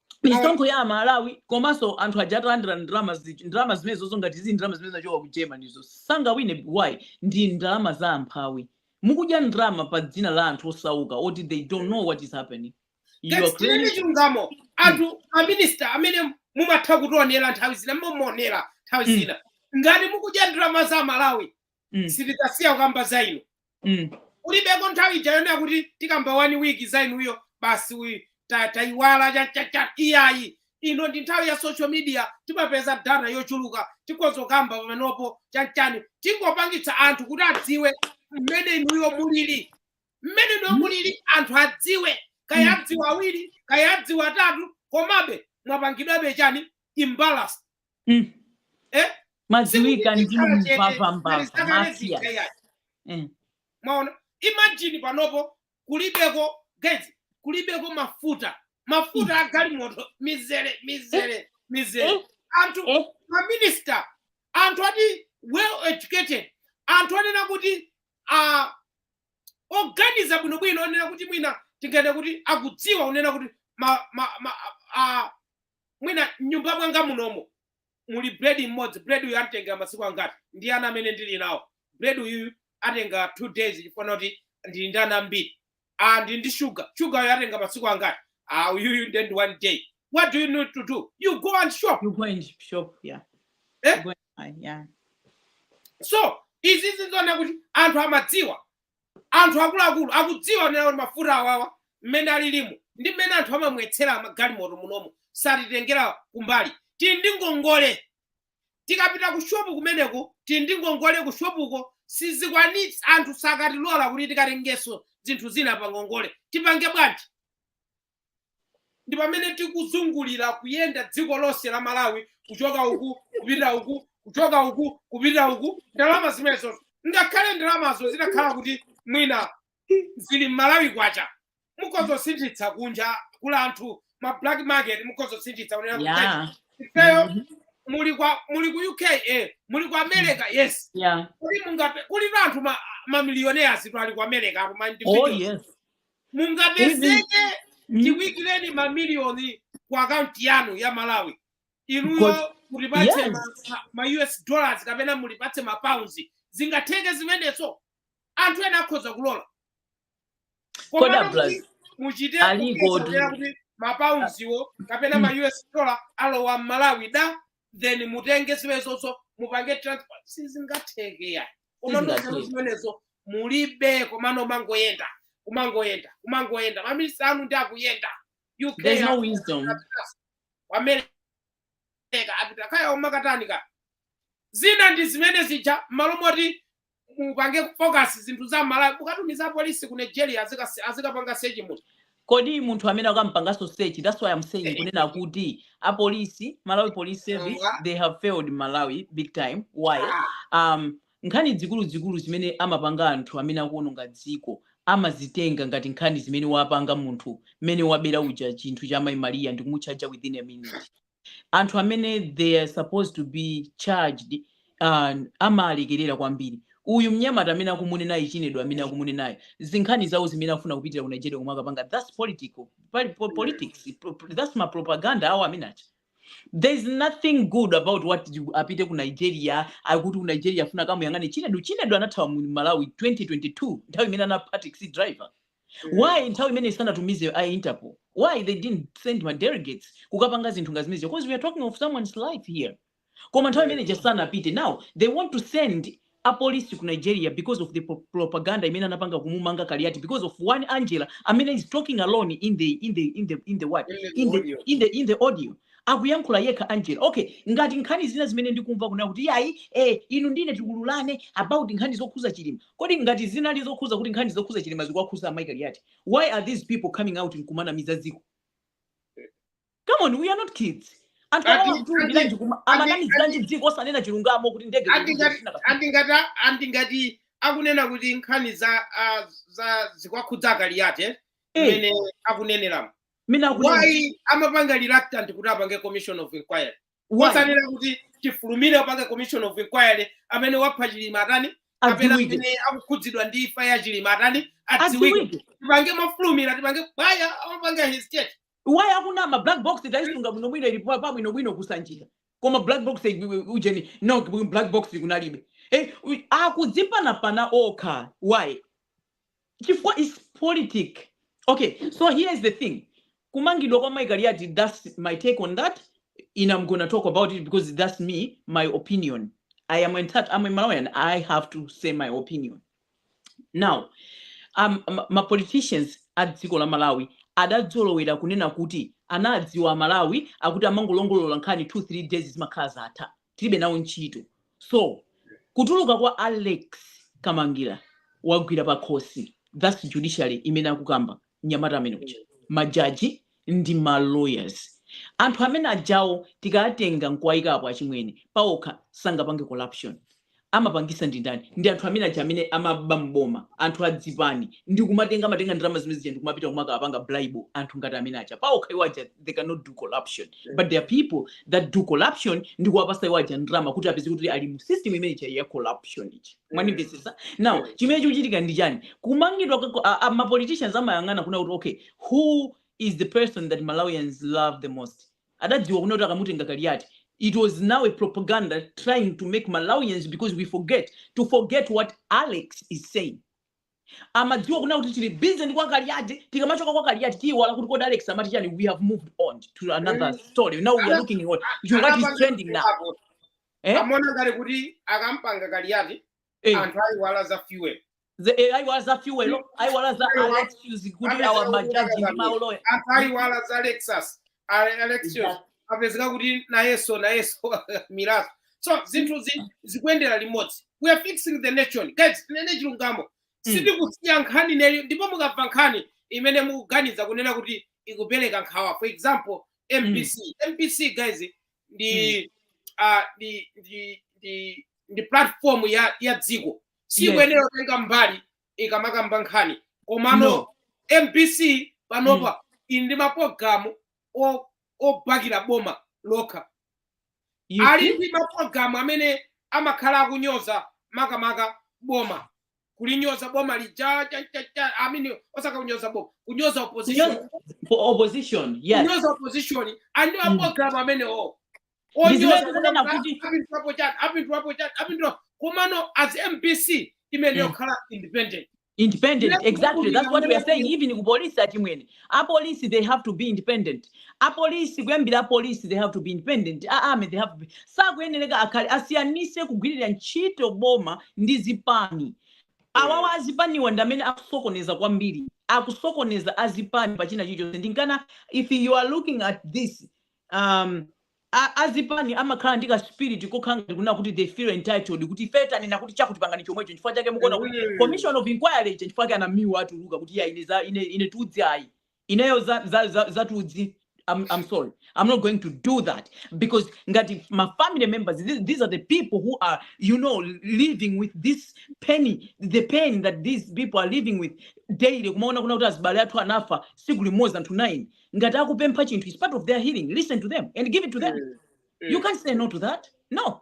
misonkho ya amalawi komanso anthu aja atalandira ndalama zi- ndalama zimenezozo ngati zili ndalama zimene zachoka ku germany izo sangawine why ndi ndalama za amphawi mukudya ndalama pa dzina la anthu osauka oti they don't know what is happening you are Yes, tinene claiming chilungamo anthu amnyasa amene mumatha kutionera nthawi zina mumaonera nthawi Mm. zina ngati mukudya ndalama za amalawi mm. sitidzasiya kukamba za inu mm. kulibeko nthawi ija yonena kuti tikamba one week za inuyo basi uyu ta- tayiwala cha- cha- cha- iyayi ino ndi nthawi ya social media timapeza data yochuluka tikhoza kukamba pamenopo chanchani tingopangitsa anthu kuti adziwe mmene inuyo mulili mmene inuyo mulili anthu adziwe kaya adziwa awiri kaya adziwa atatu komabe mwapangidwabe chani embarrass Mm. Eh? mwadziwika ndinu mbava mbava mafia Eh. mwaona imagine panopo kulibeko guys kulibeko mafuta mafuta a galimoto mizere mizere mizere Eh. anthu Eh. maminista anthu ati well educated anthu onena kuti uh, oganiza bwinobwino onena kuti mwina tinganene kuti akudziwa kunena kuti ma, ma, ma, uh, mwina mnyumba mwanga munomo muli bread mmodzi bread uyu anditengera masiku angati ndi ana amene ndili nawo bread uyu atenga two days chifukwa choti ndili ndi ana ambiri ah ndili ndi shuga shuga uyu atenga masiku angati ah uyuyu nde ndi one day what do you need to do you go and shop you go and shop yeah eh? go and, yeah so izi ndi zonena kuti anthu amadziwa anthu akuluakulu akudziwa kunena kuti mafuta awawa mmene alilimu ndi mmene anthu amamwetsera magalimoto munomo satitengera kumbali tili ndi ngongole tikapita ku shopu kumeneko tili ndi ngongole ku shopuko sitikwanitsa anthu sakatilola kuti tikatengenso zinthu zina pa ngongole tipange bwanji ndi pamene tikuzungulira kuyenda dziko lonse la malawi kuchoka uku kupita uku kuchoka uku kupita uku ndalama zimenezo ngakhale ndalamazo zitakhala kuti mwina zili mmalawi kwacha mukhoza kusinthitsa kunja kula kuma black market mukhoza kusinthitsa kunena kuti yeah ifeyo Mhm. muli ku uk eh, muli ku america yes yeah kuli mungape kuli anthu ma- mamiliyonea oti ali ku america apo ma oh individuals. yes mungapezeke mm, tikuikireni mamiliyoni ku akaunti yanu ya malawi because inuyo mutipatse ma, yes ma, ma us dollars kapena mutipatse ma pounds zingatheke zimenezo anthu ena akhoza kulola komano muchite kuti ma pounds wo kapena ma us dollar alowa m'malawi da then mutenge zimenezozo mupange transport sizingatheke ayi koma nzeru zimenezo mulibe komano kumangoyenda kumangoyenda kumangoyenda maminista anu ndi akuyenda uk there's no wisdom america apita kaya kumakatani zina ndi zimene zija mmalo moti mupange focus zinthu za malawi mukutumiza apolisi ku nigeria azikasi- azikapanga sechi munthu kodi munthu amene akumupanganso search that's why i'm saying kunena kuti apolisi malawi police service they have failed malawi big time why Ah, um, nkhani zikuluzikulu zimene amapanga anthu amene akuononga dziko amazitenga ngati nkhani zimene wapanga munthu mmene wabera uja chinthu cha mayi mariya ndikumutchaja within a minute anthu amene they are supposed to be charged uh, amalekerera kwambiri uyu mnyamata amene akumunenayu chinedu amene akumunenayo zinkhani zawo zimene afuna kupitira ku nigeria koma akupanga thats political pali po- politics pro- pro- thats ma propaganda awo amene acha there is nothing good about what you- apite ku nigeria akuti ku nigeria afuna akamuyang'ane chinedu chinedu anathawa mu malawi 2022 nthawi imene anapha taxi driver Mm. why nthawi imene sanatumize a interpol why they didn't send ma delegates kukapanga zinthu ngati zimenezo because we are talking of someone's life here koma nthawi imene just sanapite now they want to send apolisi ku nigeria because of the pro- propaganda imene anapanga kumumanga kaliati because of one angella amene is talking alone in the in the in the in the what in the in the in the audio akuyankhula yekha Angella okay ngati nkhani zina zimene ndikumva kunena kuti iyayi eh inu ndi ine tiululane about nkhani zokhuza chilima kodi ngati zinali zokhuza kuti nkhani zokhuza chilima zikuwakhuza mayi kaliyati why are these people coming out nkumanamiza dziko come on we are not kids anthu awa amanamiziranji dziko osanena chilungamo kuti ndege Ati zikuchita ngati- zina andi ngati andi ngati akunena kuti nkhani za ah, za zikuwakhudza akaliyati Eh. imene akuneneramo nunena kuti why amapanga reluctant kuti apange commission of inquiry why? osanena kuti tifulumire apange commission of inquiry amene wapha chilima atani kapena adziwike amene akukhudzidwa ndi imfa ya chilima atani adziwike adziwike tipange mofulumira tipange why amapanga hesitate why akunama black box taisunga bwino bwino ili pabwino bwino kusanjika koma black box i- i- ujeni no black box kunalibe eh, u- akudzipanapana okha why chifukwa its politic okay so here is the thing kumangidwa kwa mai kaliati thats my take on that and am gonna talk about it because thats me my opinion i am entitled am a malawian and i have to say my opinion now um, ma- ma politicians a dziko la malawi adadzolowera kunena kuti anadziwa amalawi akuti amangolongolola nkhani 2 3 days zimakhala zatha tilibe nawo ntchito so kutuluka kwa alex kamangila wawagwira pakhosi thats judiciary imene akukamba mnyamata amene uja majaji ndi ma lawyers anthu amene ajawo tikawatenga nkuwayikapo achimwene pawokha sangapange corruption amapangisa ndi ndani ndi anthu amene aja amene amaba m'boma anthu a zipani ndi kumatenga amatenga ndalama zimene zija ndi kumapita kumakawapanga bribe anthu ngati amene aja paokha iwo aja they cannot do corruption but there are people that do corruption ndi kuwapasa iwo aja ndalama kuti apeze kuti ali mu system imene ija ya corruption ija mwanimvetsetsa now chimene chikuchitika ndi chani kumangidwa kako- a- a- ma politicians amayang'ana kunena kuti okay who is the person that malawians love the most adadziwa kunena kuti akamutenga kaliati it was now a propaganda trying to make malawians because we forget to forget what alex is saying amadziwa kunena kuti tili busy ndi kwa kaliati tikamachoka kwa kaliati tiyiwala kuti kodi alex amati chani we have moved on to another Eh, story now we are ana- looking at what is anapanga trending now hapo. eh? amaona ngati kuti akamumanga kaliati eh. anthu ayiwala za fuel eh, ayiwala za fuel ayiwala za elections kuti awa majaji ndi mauloya anthu ayiwala za alex elections apezeka kuti nayeso nayeso miraso so zinthu zikuyendera limodzi we are fixing the nation guys tinene chilungamo mm. sitikusiya nkhani neyo ndipo mukabva nkhani imene mukuganiza kunena kuti ikupereka nkhawa for example mbc mm. mbc guys ndi hmm. ah, ndi ndi ndi ndi platform ya ya dziko sikuyenera yes. kutenga mbali ikamakamba nkhani komano no. mbc panopa mm. ili ndi mapologalamu obakira boma lokha ali ndi mapologalamu amene amakhala akunyoza makamaka boma kulinyoza boma lija cha- cha- cha- I mean, osati kunyoza boma kunyoza opposition Kunyoza- for opposition yes kunyoza opposition andiwa Mm. program amenewo Ndizimene kunena kuti- apindwapo chani apindwapo chani apindwa komano as mbc imene Mm. yokhala independent independent Yes, exactly that's what we are saying even ku police achimwene a police they have to be independent a police kuyambira a police they have to be independent a army they have to be sakuyenereka akhale asiyanise kugwirira ntchito boma ndi zipani awawa azipaniwa ndi amene akusokoneza kwambiri akusokoneza azipani pachina chilichonse ndinkana if you are looking at this um, a, azipani amakhala ndi ka spirit kokhala ngati kunena kuti they feel entitled kuti ife tanena kuti chakuti pangani chomwecho nchifukwa chake mukuona kuti Ehe. commission of inquiry ija chifukwa chake anamiwa atuluka kuti ya ine za ine ine tudzi ayi ineyo za za za, za tudzi I'm, I'm sorry. I'm not going to do that because ngati ma family members, these, these are the people who are, you know, living with this pain, the pain that these people are living with daily. Kumaona kuna kuti azibale athu anafa siku limodzi anthu nine. ngati akupempha chinthu is part of their healing listen to them and give it to them mm. Mm. you can't say no to that no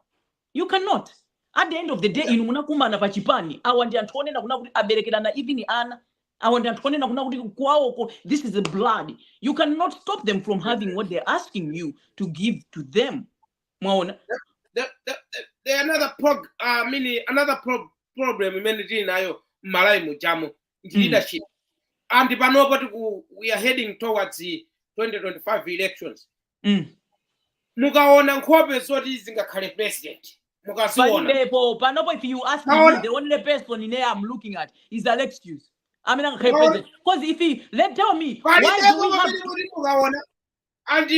you cannot at the end of the day inu munakumana pa chipani awa ndi anthu onena kuna kuti aberekerana even ana awa ndi anthu onena kuna kuti kwawoko this is blood you cannot stop them from having what they're asking you to give to them mwaona the, the, the, the another prog, uh, mini, another pro, problem imene tili nayo mmalayi mujamu ndi Mm. leadership and panopo tiku we are heading towards the 2025 elections Mm. mukaona nkhope zoti zingakhale president mukaziona palibepo panopo if you ask me Naona- the only person ine i'm looking at is alex hughes amene angakhale Naona- president because if he let tell me why do palibepo we have pamene kuti mukaona and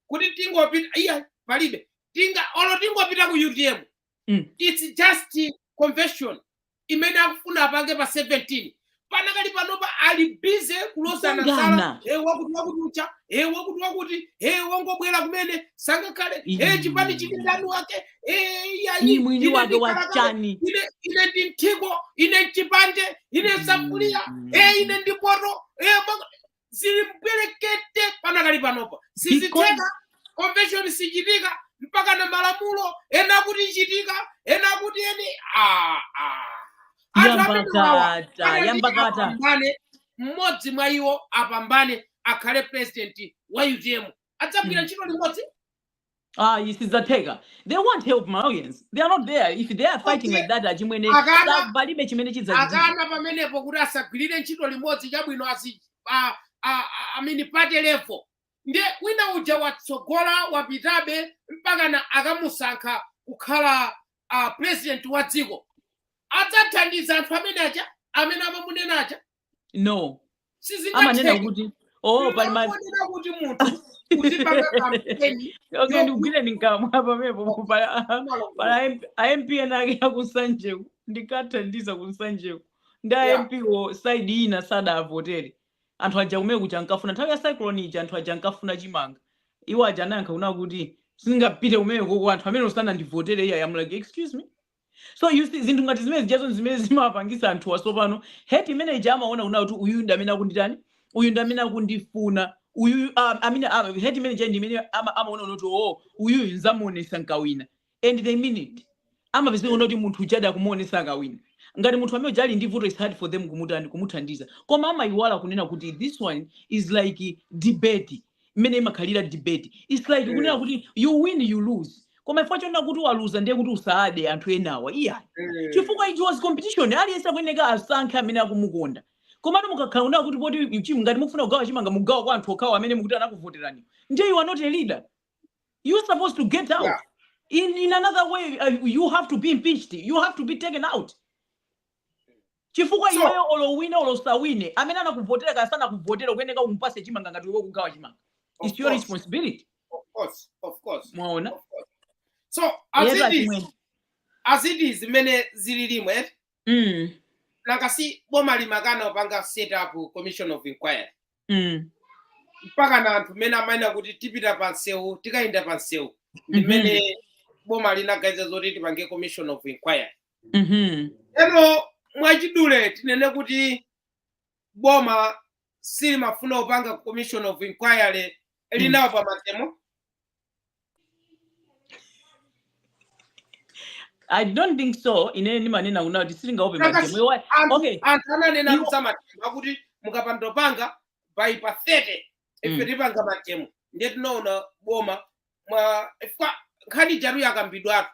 kuti tingopita iya palibe tinga olo tingopita ku utm Mm. is just convention imene akufuna apange pa 17 panakali panopa ali bize kulozana zala Kukangana. e wakuti wakuti ucha e wakuti wakuti e wongobwera kumene sangakhale e Ii. chipani chili ndani wake e Ni yayi mwini wake ndi wa kalakale, chani. ine ine ndi mthiko ine mchipande ine nsakuliya Mm. e ine ndi poto e mwa- zili mbwerekete panakali panopa sizitheka convention sichitika mpaka na malamulo ena kuti ichitika ena kuti eni ah, ah. Anthu amene wawa, yambakata anali yambakata apambane mmodzi mwa iwo apambane akhale president wa utm adzagwira ntchito limodzi Ah, sizidzatheka. They won't help Malawians. They are not there. If they are fighting Okay. like that, achimwene, Akana- sa- palibe chimene chidzachitika. akana pamenepo kuti asagwirire ntchito limodzi chabwino asi a- a- a- amene pa level ndiye wina uja watsogola wapitabe mpakana akamusankha kukhala uh, president wa dziko adzathandiza anthu amenewa aja amene amamunena aja no amanena sizingatheke kuti oh pali ma ndinongonena kuti munthu uzipanga kampeni okay ndikugwire ndinkamwa pamepo pala yokumalongola pala MP amp ena ake akusanjeku ndikathandiza kunsanjeku ndiye a MP wo side ina sadavotere anthu aja kumene kuja ankafuna nthawi ya cyclone ija anthu aja ankafuna chimanga iwo aja anayankha kuna kuti sindingapite kumeneko kuli anthu amene sanandivotere iyayi I'm like excuse me So you see, zinthu ngati zimene zijazo ndi zimene zimawapangisa anthuwa tsopano hate imene ija amaona kunena kuti uyuyu ndi amene akunditani uyu ndi amene akundifuna uyuyu um, amene ah, hate imene ija ndi imene ama, amaona kunena kuti oo uyuyu nzamuonesa nkawina and they mean it amapezeka kunena kuti munthu ujadi akumuonesa akawina ngati munthu amene uja ali ndi vuto it's hard for them kumutani kumuthandiza koma amayiwala kunena kuti this one is like debate mmene imakhalira debate its like mm. kunena kuti you win you lose koma chifukwa chonena kuti waluza ndiye kuti uzada anthu enawa iyayi mm. chifukwa it was competition aliyense akuyeneka asankhe amene akumukonda komatu mukakhala kunena kuti poti chim ngati mukufuna kugawa chimanga mugawa kwa anthu okhawo amene mukuti anakuvoterani ndiye you are not a leader you are supposed to get out yeah. in, in another way uh, you have to be impeached you have to be taken out Chifukwa So- iweyo olo uwine olo usawine amene anakuvotera kaya sanakuvotera ukuyeneka umupase chimanga ngati iwe ukugawa chimanga Of its your course. responsibility Of course, of course. mwaona Of course. So Yes, as it achimwene. is, as it is mmene zililimu mm, nanga si boma limakana kupanga set up commission of inquiry mm, mpakana anthu mmene amanena kuti tipita pa msewu tikayenda pa msewu ndi Mhm. mmene boma linaganiza zoti tipange commission of inquiry Mhm. ndiyeno mwachidule tinene kuti boma silimafuna kupanga commission of inquiry linaopa mademo i don't think so ine ndimanena kuna kuti silingaope Kaka- mademo Iwa- anthu okay anthu ananena Iwo- kuza mademo akuti mukapanda kupanga by pa 30 ife Mm. tipanga mademo ndiye tinaona boma mwa chifukwa nkhani ijatu yakambidwatu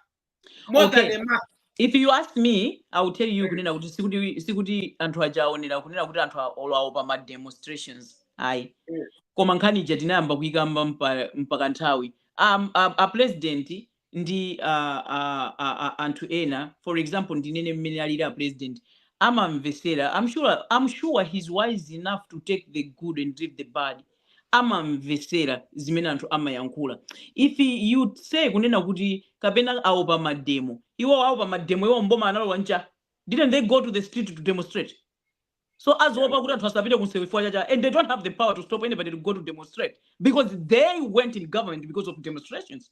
more okay. than a month if you ask me i will tell you kunena kuti sikuti sikuti anthu aja aonera kunena kuti anthu olo aopa ma demonstrations ayi mm. koma nkhani ija tinayamba kuyikamba mpa, mpaka nthawi um, a, a president ndi uh, uh, uh, uh, anthu ena for example ndinene mmene alili a president amamvesera I'm sure, I'm sure he's wise enough to take the good and leave the bad amamvesera zimene anthu amayankhula if you say kunena kuti kapena aopa mademo iwo aopa mademo iwo mboma analowa nchani didn't they go to the street to demonstrate so aziopa kuti anthu asapite kumsewu chifukwa cha chani and they don't have the power to stop anybody to go to demonstrate because they went in government because of demonstrations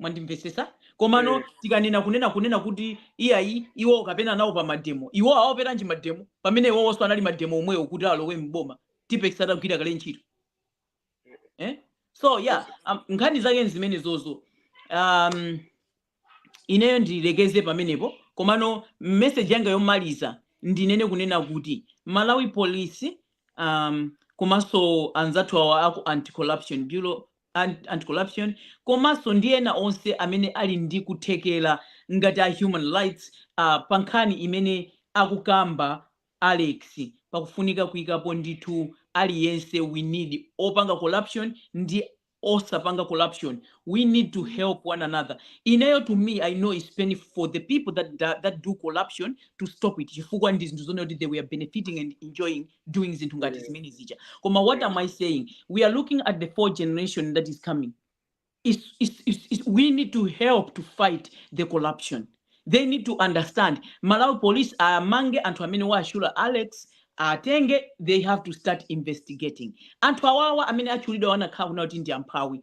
mwandimvetsetsa komano Eh. tikanena kunena kunena kuti iyayi iwo kapena nawo pa mademo iwo akuopanji mademo pamene iwowonso anapanga mademo omwewo kuti alowe mboma tipex atagwira kale ntchito eh? so yeah um, nkhani zake nzimenezozo um, ineyo ndilekeze pamenepo komano message yanga yomaliza ndinene kunena kuti malawi police um, komanso anzathu awa aku anti corruption bureau Anti-Corruption, komanso ndi ena onse amene ali ndi kuthekera ngati a human rights a pankhani imene akukamba Alex pakufunika kuikapo ndithu aliyense we need opanga corruption ndi osapanga corruption we need to help one another ineyo to me I know is painful for the people that that do corruption to stop it chifukwa ndi zinthu zonena kuti they were benefiting and enjoying doing zinthu ngati zimene zija koma what am i saying we are looking at the four generation that is coming it's, it's, it's, it's, we need to help to fight the corruption they need to understand malawi police amange anthu amene wawatchula alex atenge they have to start investigating anthu awawa amene atchulidwa angakhale kunena kuti ndi amphawi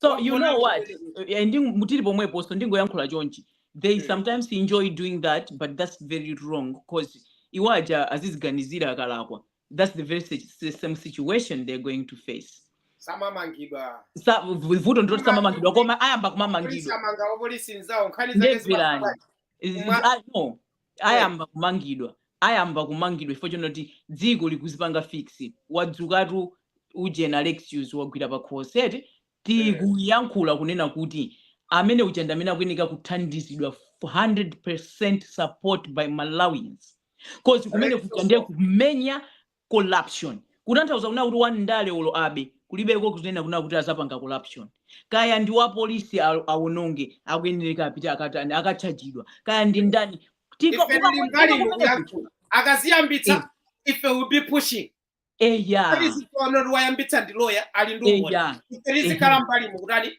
so you know what Eh, ndi muli pomwepo ndingoyankhula chonchi they Mm. sometimes enjoy doing that but that's very wrong because iwo aja aziziganizire akalakwa that's the very si- si- same situation they're going to face samamangidwa Sa- vu- vuto ndiloti samamangidwa koma ayamba polisi kumamangidwa amanga wapolisi nzawo nkhani zake ndiye imvani zimakhala Is- is- Mwa- ah, no ayamba kumangidwa ayamba kumangidwa chifukwa chonoti dziko likuzipanga fix wadzukatu ujena lexius wagwira pa closet tikuyankhula kunena kuti amene uja ndi amene akuyeneka kuthandizidwa 100 percent support by malawians cause kumene kuja ndiye kumenya corruption kutanthauza kunena kuti wandale olo abe kulibeko kunena kunena kuti azapanga corruption kaya ndi wa police a- awononge akuyenereka apite akatani akatchajidwa kaya ndi ndani Tika- ife tili ukapweteka mbali ino kumeneko kuyankhula akaziyambitsa ife will be pushing eya tiziona kuti wayambitsa ndi loya ali ndi umboni eya ife tizikhala mbali mukutani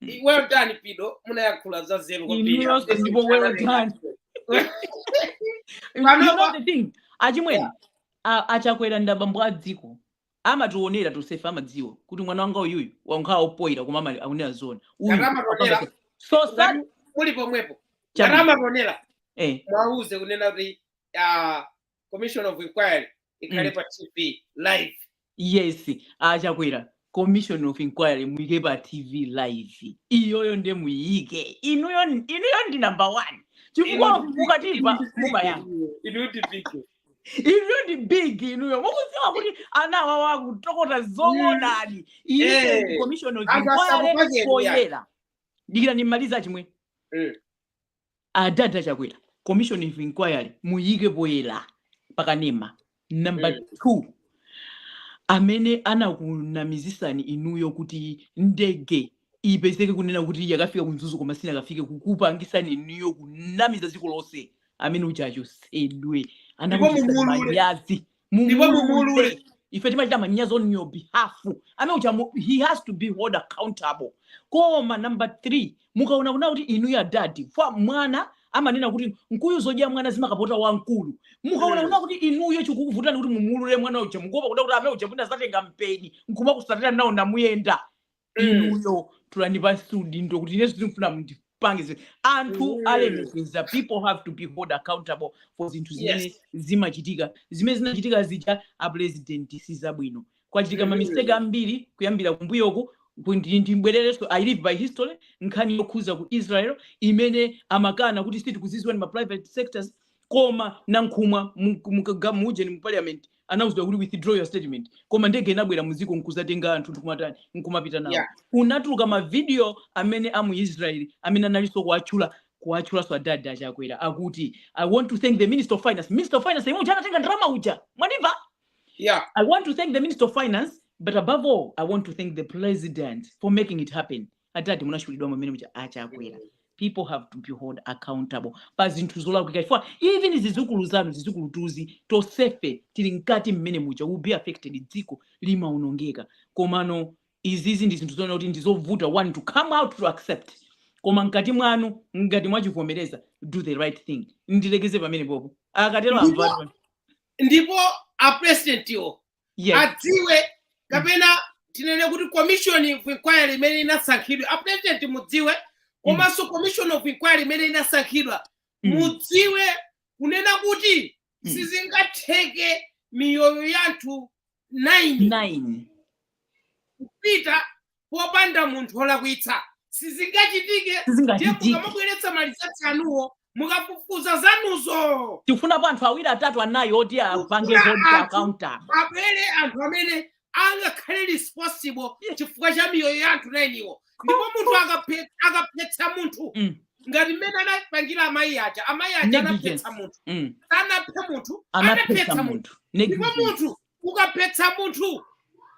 I- well done pido munayankhula za zero kwambiri Inuyo After ndipo well simtana done. naye. You Pano know pa- the thing, achimwene Yeah. a- achakwera ndi abambo a dziko amationera tosefe amadziwa kuti mwana wanga uyuyu wankhala opoira koma koma akunena zona uyu Ngati amationera, apanga- so sad ngati muli pomwepo Chabe. ngati amationera eh mwauze kunena kuti ah, commission of inquiry ikhale Mm. pa tv live yes achakwera commission of inquiry muyike pa tv live iyoyo nde muyike inuyo ndi number one chifukwa inuyo ndi big inuyo mukudziwa kuti ana awawa akutokota zoonadi Eh, iyiyo commission of anthu inquiry asakupakeni poyera dikira ndimalize chimwene Mm. adada chakwera commission of inquiry muyike poyera pakanema number Mm. two amene anakunamizisani inuyo kuti ndege ipezeke kunena kuti yakafika ku mzuzu koma sinakafike kukupangisani inuyo kunamiza dziko lonse amene uja achosedwe anakuchititsani manyazi ndipo mumuulule ife timachita manyazi on your behalf amene uja mu- he has to be held accountable koma number 3 mukaona kunena kuti inuyo adadi ifa mwana amanena kuti mkuyu zodya mwana zimakapota wamkulu mukaona Mm. kunena kuti inuyo chikukuvutani kuti mumuulule mwana uja mukuopa kunena kuti amene uja mwina azatenga mpeni nkumakusatira nawo namu mukuyenda inuyo tulani pansi udindo kuti ineso sindikufuna mundipange zinthu anthu olemekezeka people have to be held accountable for zinthu zimene Yes. zimachitika zimene zinachitika zija a president sizabwino kwachitika Mhm. mamistake ambiri kuyambira kumbuyoku kuti ndibwererenso i live by history nkhani yokhuza ku israel imene amakana kuti sitikuziziwa ndi ma private sectors koma nankhumwa mu- mu- ga- mu ujeni mu parliament anauzidwa kuti withdraw your statement koma ndege inabwera muziko nkuzatenga anthu ndikumatani nkumapita nawo Yeah. kunatuluka mavidiyo amene amu israel amene analinso kuwatchula kuwatchulanso adadi achakwera akuti i want to thank the minister of finance minister of finance yemwe uja anatenga ndalama uja mwanimva Yeah. I want to thank the Minister of Finance, but above all, I want to thank the President for making it happen. adadi munachulidwa mumene muja a chakwera people have to be held accountable pa zinthu zolakwika chifukwa even zizukulu zanu zizukulutuzi tonsefe tili mkati mmene muja will be affected dziko limaonongeka komano izizi ndi zinthu zoona kuti ndizovuta one to come out to accept koma mkati mwanu ngati mwachivomereza do the right thing ndilekeze pamenepopo akatero amvatu ndipo apresidentiwo yes. adziwe kapena tinene kuti commission of inquiry imene inasankhidwa a president mudziwe komanso mm. commission of inquiry imene inasankhidwa mm. mudziwe kunena kuti mm. sizingatheke miyoyo yanthu 9 kupita popanda munthu olakwitsa sizingachitike sizingachitike mukamabweretsa ma results anuwo mukafufuza zanuzo tikufunapo anthu awiri atatu anayi oti apange account abwere anthu amene angakhale responsible chifukwa cha miyoyo ya anthu nayiniwo ndipo munthu akaphetsa munthu mm. ngati mmene anapangira amayi aja amayi aja anaphetsa munthu mm. anapha munthu anaphetsa munthu ndipo munthu ukaphetsa munthu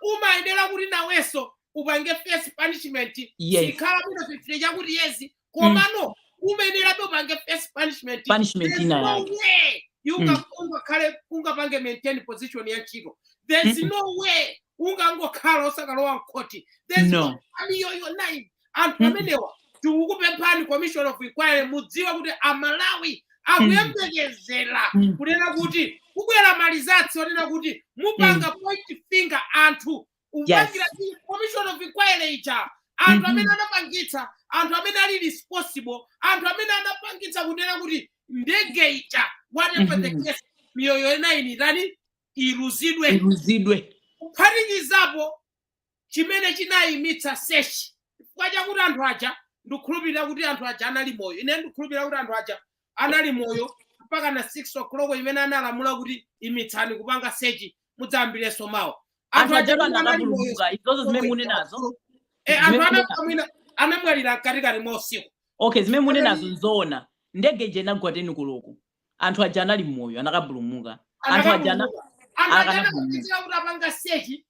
umayenera kuti nawenso upange face punishment yes ikhala muno fifty chakuti yezi komano umayenerabe upange face punishment punishment There's no way you Mm. unga- ungakhale ungapange maintain position ya ntchito there's Mm-mm. no way ungangokhala usakalowa mkhoti there's no no family your life anthu Mm. amenewa tikukupemphani commission of inquiry mudziwe kuti amalawi akuyembekezera Mm. kunena kuti kubwera ma results onena kuti mupanga point finger anthu upangira Yes. commission of inquiry ija anthu Mhm. amene anapangitsa anthu amene ali responsible anthu amene anapangitsa kunena kuti ndege ija whatever the Mhm. case miyoyo nine ten iluzidwe kuphatikizapo chimene chinayimitsa search chifukwa chakuti anthu aja ndikukhulupirira kuti anthu aja anali moyo ine ndikukhulupirira kuti anthu aja anali moyo mpaka na 6 o'clock imene analamula kuti imitsani kupanga search mudzayambirenso mawa anthu aja kuti anali moyo anapulumuka izozo zimene munenazo e anthu zimene munenazo anamwina anamwalira mkatikati mwa usiku okay zimene munenazo nzoona ndege ija inagwa teni koloko anthu aja anali moyo anakapulumuka anthu aja ana- anakapulumuka anthu aja anapulumuka anakapitira kuti anapanga sechi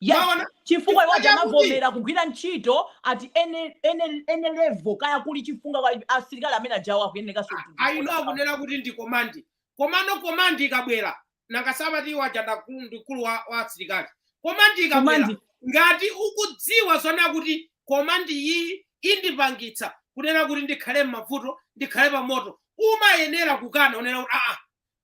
yes mwaona chifukwa iwo aja chakuti amavomera kugwira ntchito ati ene ene ene level kaya kuli chifunga asilikali amene ajawo akuyenekanso kuti aino ndiponso awo akunena kuti ndi komandi komano komandi ikabwera nanga sapati iwo aja ndakulu ndi mkulu wa, wa asilikali komandi ikabwera komandi ngati ukudziwa zoona kuti komandi iyi indipangitsa kunena kuti ndikhale m'mavuto ndikhale pamoto umayenera kukana unena kuti aa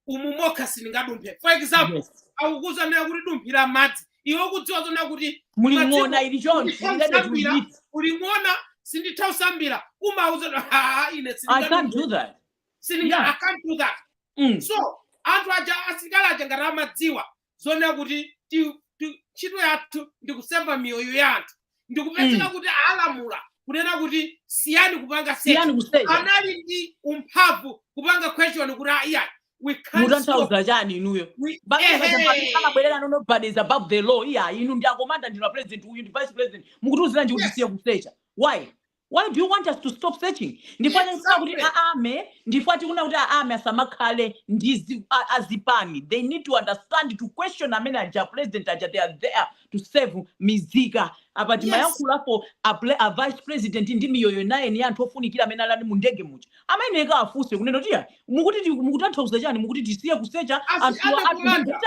umu mokha sindingadumphe for example Yes. akukuuza nayo kuti dumphira m'madzi iwe ukudziwa zoona kuti muli Madziko- ng'ona ili choncho Nditha ndende kusambira. kuipita muli ng'ona sinditha kusambira umawauza kuti, "Ah, ine i can't do that sindinga Yeah. I can't do that Mm. so anthu aja asilikali aja ngati amadziwa zoona kuti ti- ti- ntchito yathu ndi kuseva miyoyo ya anthu ndikupezeka Mm. kuti alamula kunena kuti siyani kupanga search siyani kusecha anali ndi mphamvu kupanga question kuti iyayi we can't stop mutanthauza chani inuyo we ehe abwerera no nobody is above the law iya inu ndinu akomanda ndinu a president uyu ndi vice president mukutiuziranji kuti Yes. siya kusecha why Why do you want us to stop searching? Ndifuna kuti Exactly. a army, ndifuna tikunena kuti a army asamakhale ndi zi- a- azipani. They need to understand to question amene aja president aja they are there to save mizika. Apa Yes. timayankhula pa a, ple- a vice president ndi miyoyo nine ndi anthu ofunikira amene anali mu ndege muja. Amayeneka afunse kunena kuti "Ya, mukuti ti- mukutanthauza chani mukuti tisiye kusecha Asi anthu ana anthu kumanda. ndikuti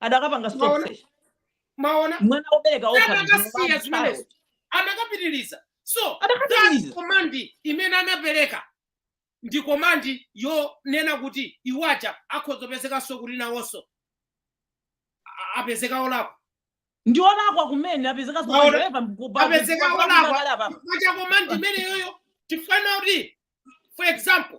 adakapanga stop Maona- search maona mwana wobereka okha adakasiya zimenezo adakapitiliza so adakapitiliza komandi imene anapereka ndi komandi yonena kuti awaja akhoza kupezekanso kuti nawonso a- apezeka olakwa ndi olakwa kumene apezeka Maona- apezeka olakwa. chifukwa cha komandi imeneyoyo chifukwa na kuti for example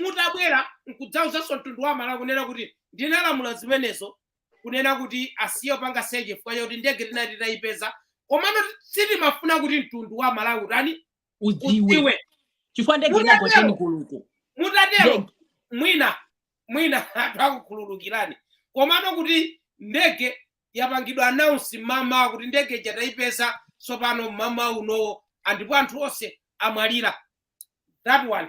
mutabwera nkudzauzanso mtundu wa Amalawi kunena kuti ndinalamula zimenezo kunena kuti asiye kupanga search chifukwa chakuti ndege tinali titayipeza komano sitimafuna kuti mtundu wa Amalawi utani udziwe udziwe chifukwa ndege Mutatero. inagoteni kuluku mutatero Ndege. mwina mwina anthu akukhululukirani komano kuti ndege yapangidwa announce mmawa kuti ndege ija tayipeza tsopano mmawa unowo andipo anthu onse amwalira that one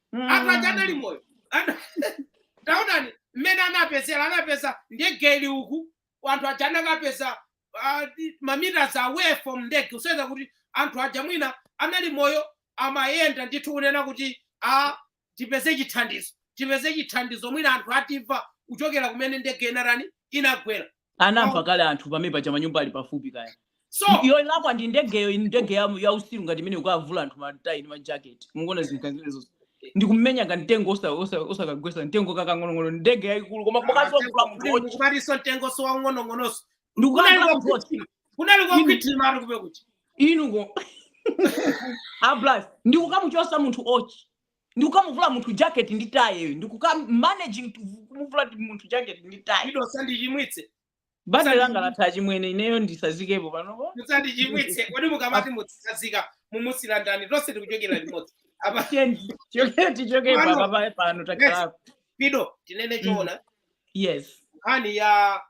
anthu aja anali moyo Ana- taonani mmene anapezera anapeza ndege ili uku anthu aja anakawapeza ah, di- mameters away from ndege kusonyeza kuti anthu aja mwina anali moyo amayenda ndithu kunena kuti a tipeze chithandizo tipeze chithandizo mwina anthu atimva kuchokera kumene ndege inatani inagwera anamva kale anthu pamene paja manyumba ali pafupi kaya so iyo ilakwa ndi ndegeyo iyi ndege ya, ya utsiru ngati imene yokavula anthu matayi ndi majaketi mukuona zinthu zimenezo ndikumenya ka mtengo osa- osa- osakagwetsa mtengo kakang'onong'ono ndege yayikulu koma kukadziwa kuvula munthu wotchi ndikupatiso mtengo so waung'onong'onoso ndikukavula munthu wotchi kunali kokhwithima ati kupe kuti inuko ablas ndikukamuchotsa munthu wotchi ndikukamuvula munthu jacket ndi tie yo ndikuma managing to vu- kumuvula ti- munthu jacket ndi tie Ido sandichimwitse. banja langa latha achimwene ineyo nditsazikepo panopo Musandichimwitse. Kodi mukamati mutsazika mumusiya ndani tonse tikuchokera limodzi. Apa Tiye- tichoke- tichokepo Pano. apa pa- pano takhalako Ido tinene choona yes nkhani ya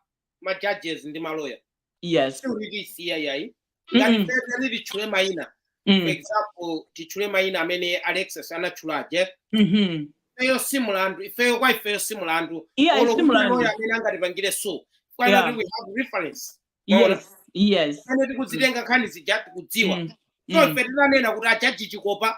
ma judges ndi maloya yes sitiwasiya ayi Mm. ngati pezani titchule mayina for Mm. example titchule mayina amene Alexious anatchula aja Mhm. ifeyo si mulandu ifeyo kwa ifeyo si mulandu iye Olo kuti ayi si mulandu lawyer amene angatipangire so kwana Yeah. kuti we have reference Maona. yes yes amene tikuzitenga nkhani zija tikudziwa Mm. so Mm. ife tinanena kuti a judge Chikopa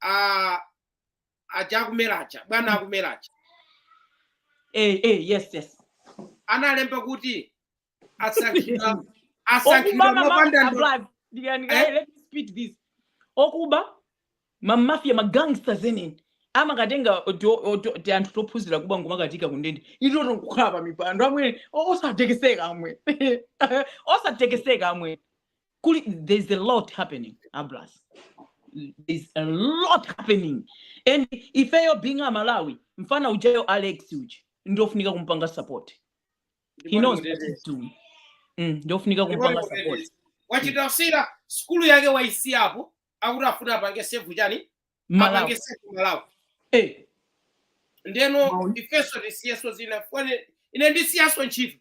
a aja akumera aja bwana akumera aja eh, eh, yes yes analemba kuti asankhidwa asankhidwa okuba mopanda ndo- mamafiya Eh? let me speak this okuba mamafiya magangsters eneni amakatenga oto- oto- ti anthu tophunzira kuba nkumakaika kundende eti nkukhala pa mipando amwene o- osatekeseka amwene osatekeseka amwene kuli there's a lot happening abras there's a lot happening and ifeyo being amalawi mfana ujayo alex uja ndiofunika kumpanga support he knows what he's doing mm, ndiofunika kumpanga support wachita siya sukulu yake waisiyapo akuti afuna apange save chani apange malawi save malawi eh, ndeno Mawu. ifeso tisiyeso zinafone ine ndisiyaso ntchito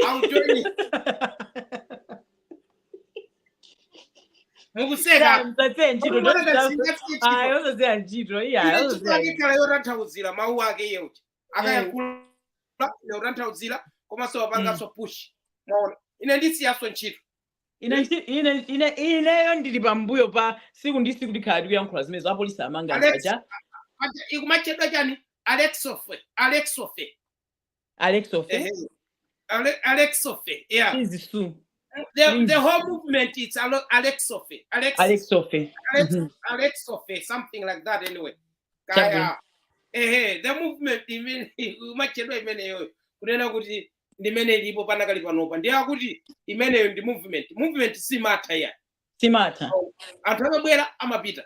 Aujoni. Mukuseka. Mtatse ntchito Mukuona ndotita- ngati singathe ntchito. Ayi, osadziwa ntchito iyayi Ine osadziwa chifukwa ntchito. ndikhala yotanthauzira mawu ake iye uja akayankhula ine yotanthauzira komanso wapanganso push mwaona ine ndisiyanso ntchito ine nchi- ine ine ineyo ndili pambuyo pa siku ndi siku tikhala tikuyankhula zimenezo apolisi amanga Alex. paja Aja, ikumachedwa chani alexofe alexofe alexofe Eh, Ale- Alexofe, yeah. chizi su The, Please. the whole movement is Alo- Alexofe. Alex, alexofe Alex, Mhm. Alexofe, something like that anyway. Chabwino. Kaya. Ehe, the movement imene umachedwa imeneyo kunena kuti ndimene ilipo panakali panopa ndiye akuti imeneyo ndi movement movement siimatha ya siimatha anthu amabwera amapita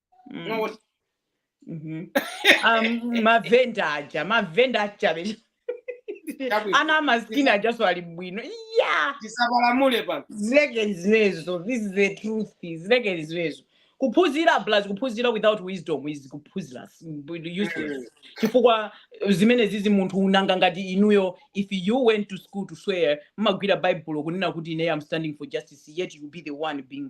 Mm. Mwaona? Mhm. Um, mavenda aja mavenda achabe Chabwino. ana amasikini ajanso ali bwino ya tisapalamule pano zileke zinezo this is the truth zileke zinezo kuphunzira plus kuphunzira without wisdom is kuphunzira s- b- useless chifukwa zimene zizi munthu wina ngati inuyo if you went to school to swear mmagwira baibulo kunena kuti ine am standing for justice yet you be the one being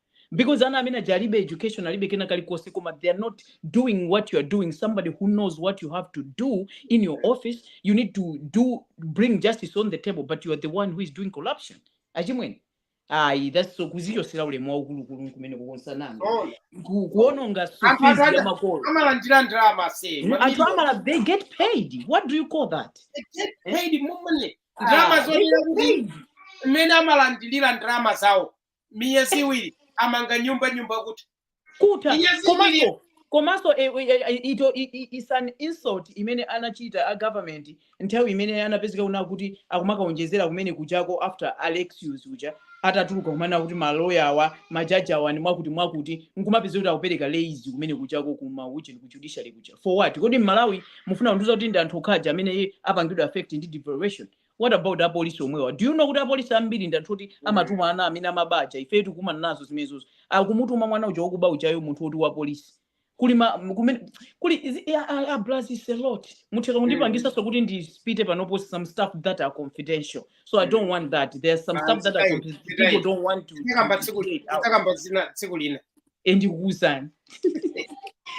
because ana amene aja alibe education alibe kena kalikonse koma they are not doing what you are doing somebody who knows what you have to do in your office you need to do bring justice on the table but you are the one who is doing corruption achimwene ayi that's so kudzichotsera ulemu waukulukulu kumene kukonsananga Zoona. Ku- kuononga anthu sufizi ya atanda makolo amalandira ndalama se Mm, anthu mamiliyoni amala they get paid what do you call that They get eh? paid money ndalama ah, they zonena get kuti paid mmene amalandilira ndalama zawo miyezi iwiri amanga nyumba nyumba kutha komanso eh, eh, eh, it i- i- is an insult imene anachita a government nthawi imene anapezeka kunena kuti akumakaonjezera kumene kujako after alexius uja atatuluka kumanena kuti maloya awa majaji awa ni mwakuti mwakuti nkumapeza kuti akupereka raise kumene kujako kuma uche ku judiciary kuja for what kodi mmalawi mufuna kundiuza kuti ndi anthu okhaja amene apangidwa affect ndi devaluation what about apolisi omwewa do you know kuti apolisi ambiri ndi anthu oti amatuma ana amene amaba aja ifetu tikumana nazo zimenezozo akumutuma mwana uja wakuba ujayo munthu woti wa polisi kuli ma m- kumene kuli izi- ya- a- a- plus is a lot mutheka kundipangisanso kuti ndi spit panopo some stuff that are confidential so i don't want that there are some stuff that are confidential people don't want to, to, to, to get out takamba zina tsiku lina e ndikukuuzani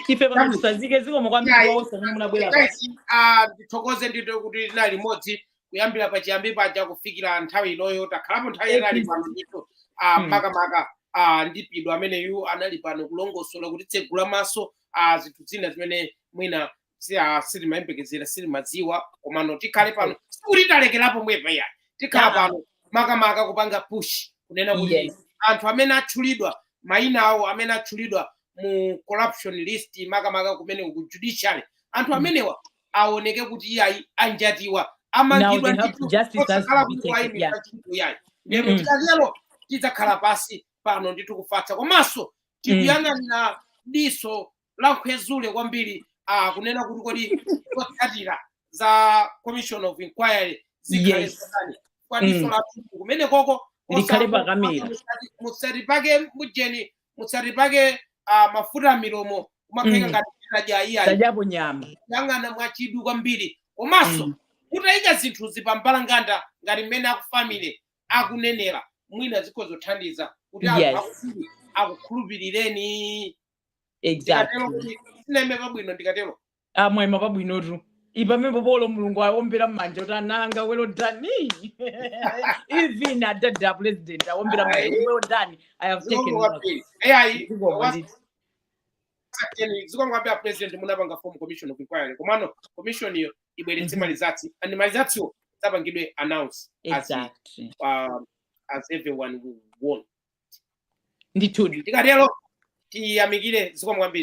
ife pano tisazike zikomo kwambiri Yayi. kwa onse amene munabwera pa Guys, ah, ndithokoze ndithu kuti tinali limodzi kuyambira pachiyambi paja kufikira nthawi inoyo takhalapo nthawi Thank yatali you. pano ndithu ah, Hmm. makamaka ah, ndi pido ameneyu anali pano kulongosola kutitsegula maso ah, zinthu zina zimene mwina si ah, sitimayembekezera sitimadziwa komano tikhale pano sikuti talekerapo pomwepa yayi tikhala Yeah. pano makamaka kupanga push kunena kuti Yes. anthu amene atchulidwa mayinawo amene atchulidwa mu corruption list makamaka kumene ku judiciary anthu Mm. amenewa aoneke kuti iyayi anjatiwa Now amangidwa they have ndithu justice has osakhala to be kuti taken. Yeah. wayimitsa chinthu yayi lero Mm-mm. tikatero tidzakhala pansi pano ndithu kufatsa komanso tikuyang'ana ndi diso lankhwenzule kwambiri ah, kunena kuti kodi zotsatira za commission of inquiry zikhale Yes. zotani kwa diso Mm. lathu kumene koko Likhale osango- pakamera. musati- musatipake mujeni musatipake ah, mafuta m'milomo kumakheka Mm. ngati tinaja iyayi tajapo nyama kuyang'ana mwachidwi kwambiri komanso Mm. kutayika zinthu zipambalanganda ngati mmene aku family akunenera mwina zikhoza kuthandiza kuti anthu Yes. akukhulupirireni exactly sinaime pabwino ndikatero mwaima pabwinotu pamenepo olo mulungu aombera mmanja kuti ananga well done even adada president aombera mmanja kuti well done i have taken Zikomo note. kwambiri. Eh, ayi, Zikomo was- ndithu. Sakeni, zikomo kwambiri a president munapanga form commission of inquiry komano commission iyo ibweretse Mhm. ma results and ma resultswo apangidwe announce as, exactly um, as everyone will want ndithudi tikatero tiyamikire zikomo kwambiri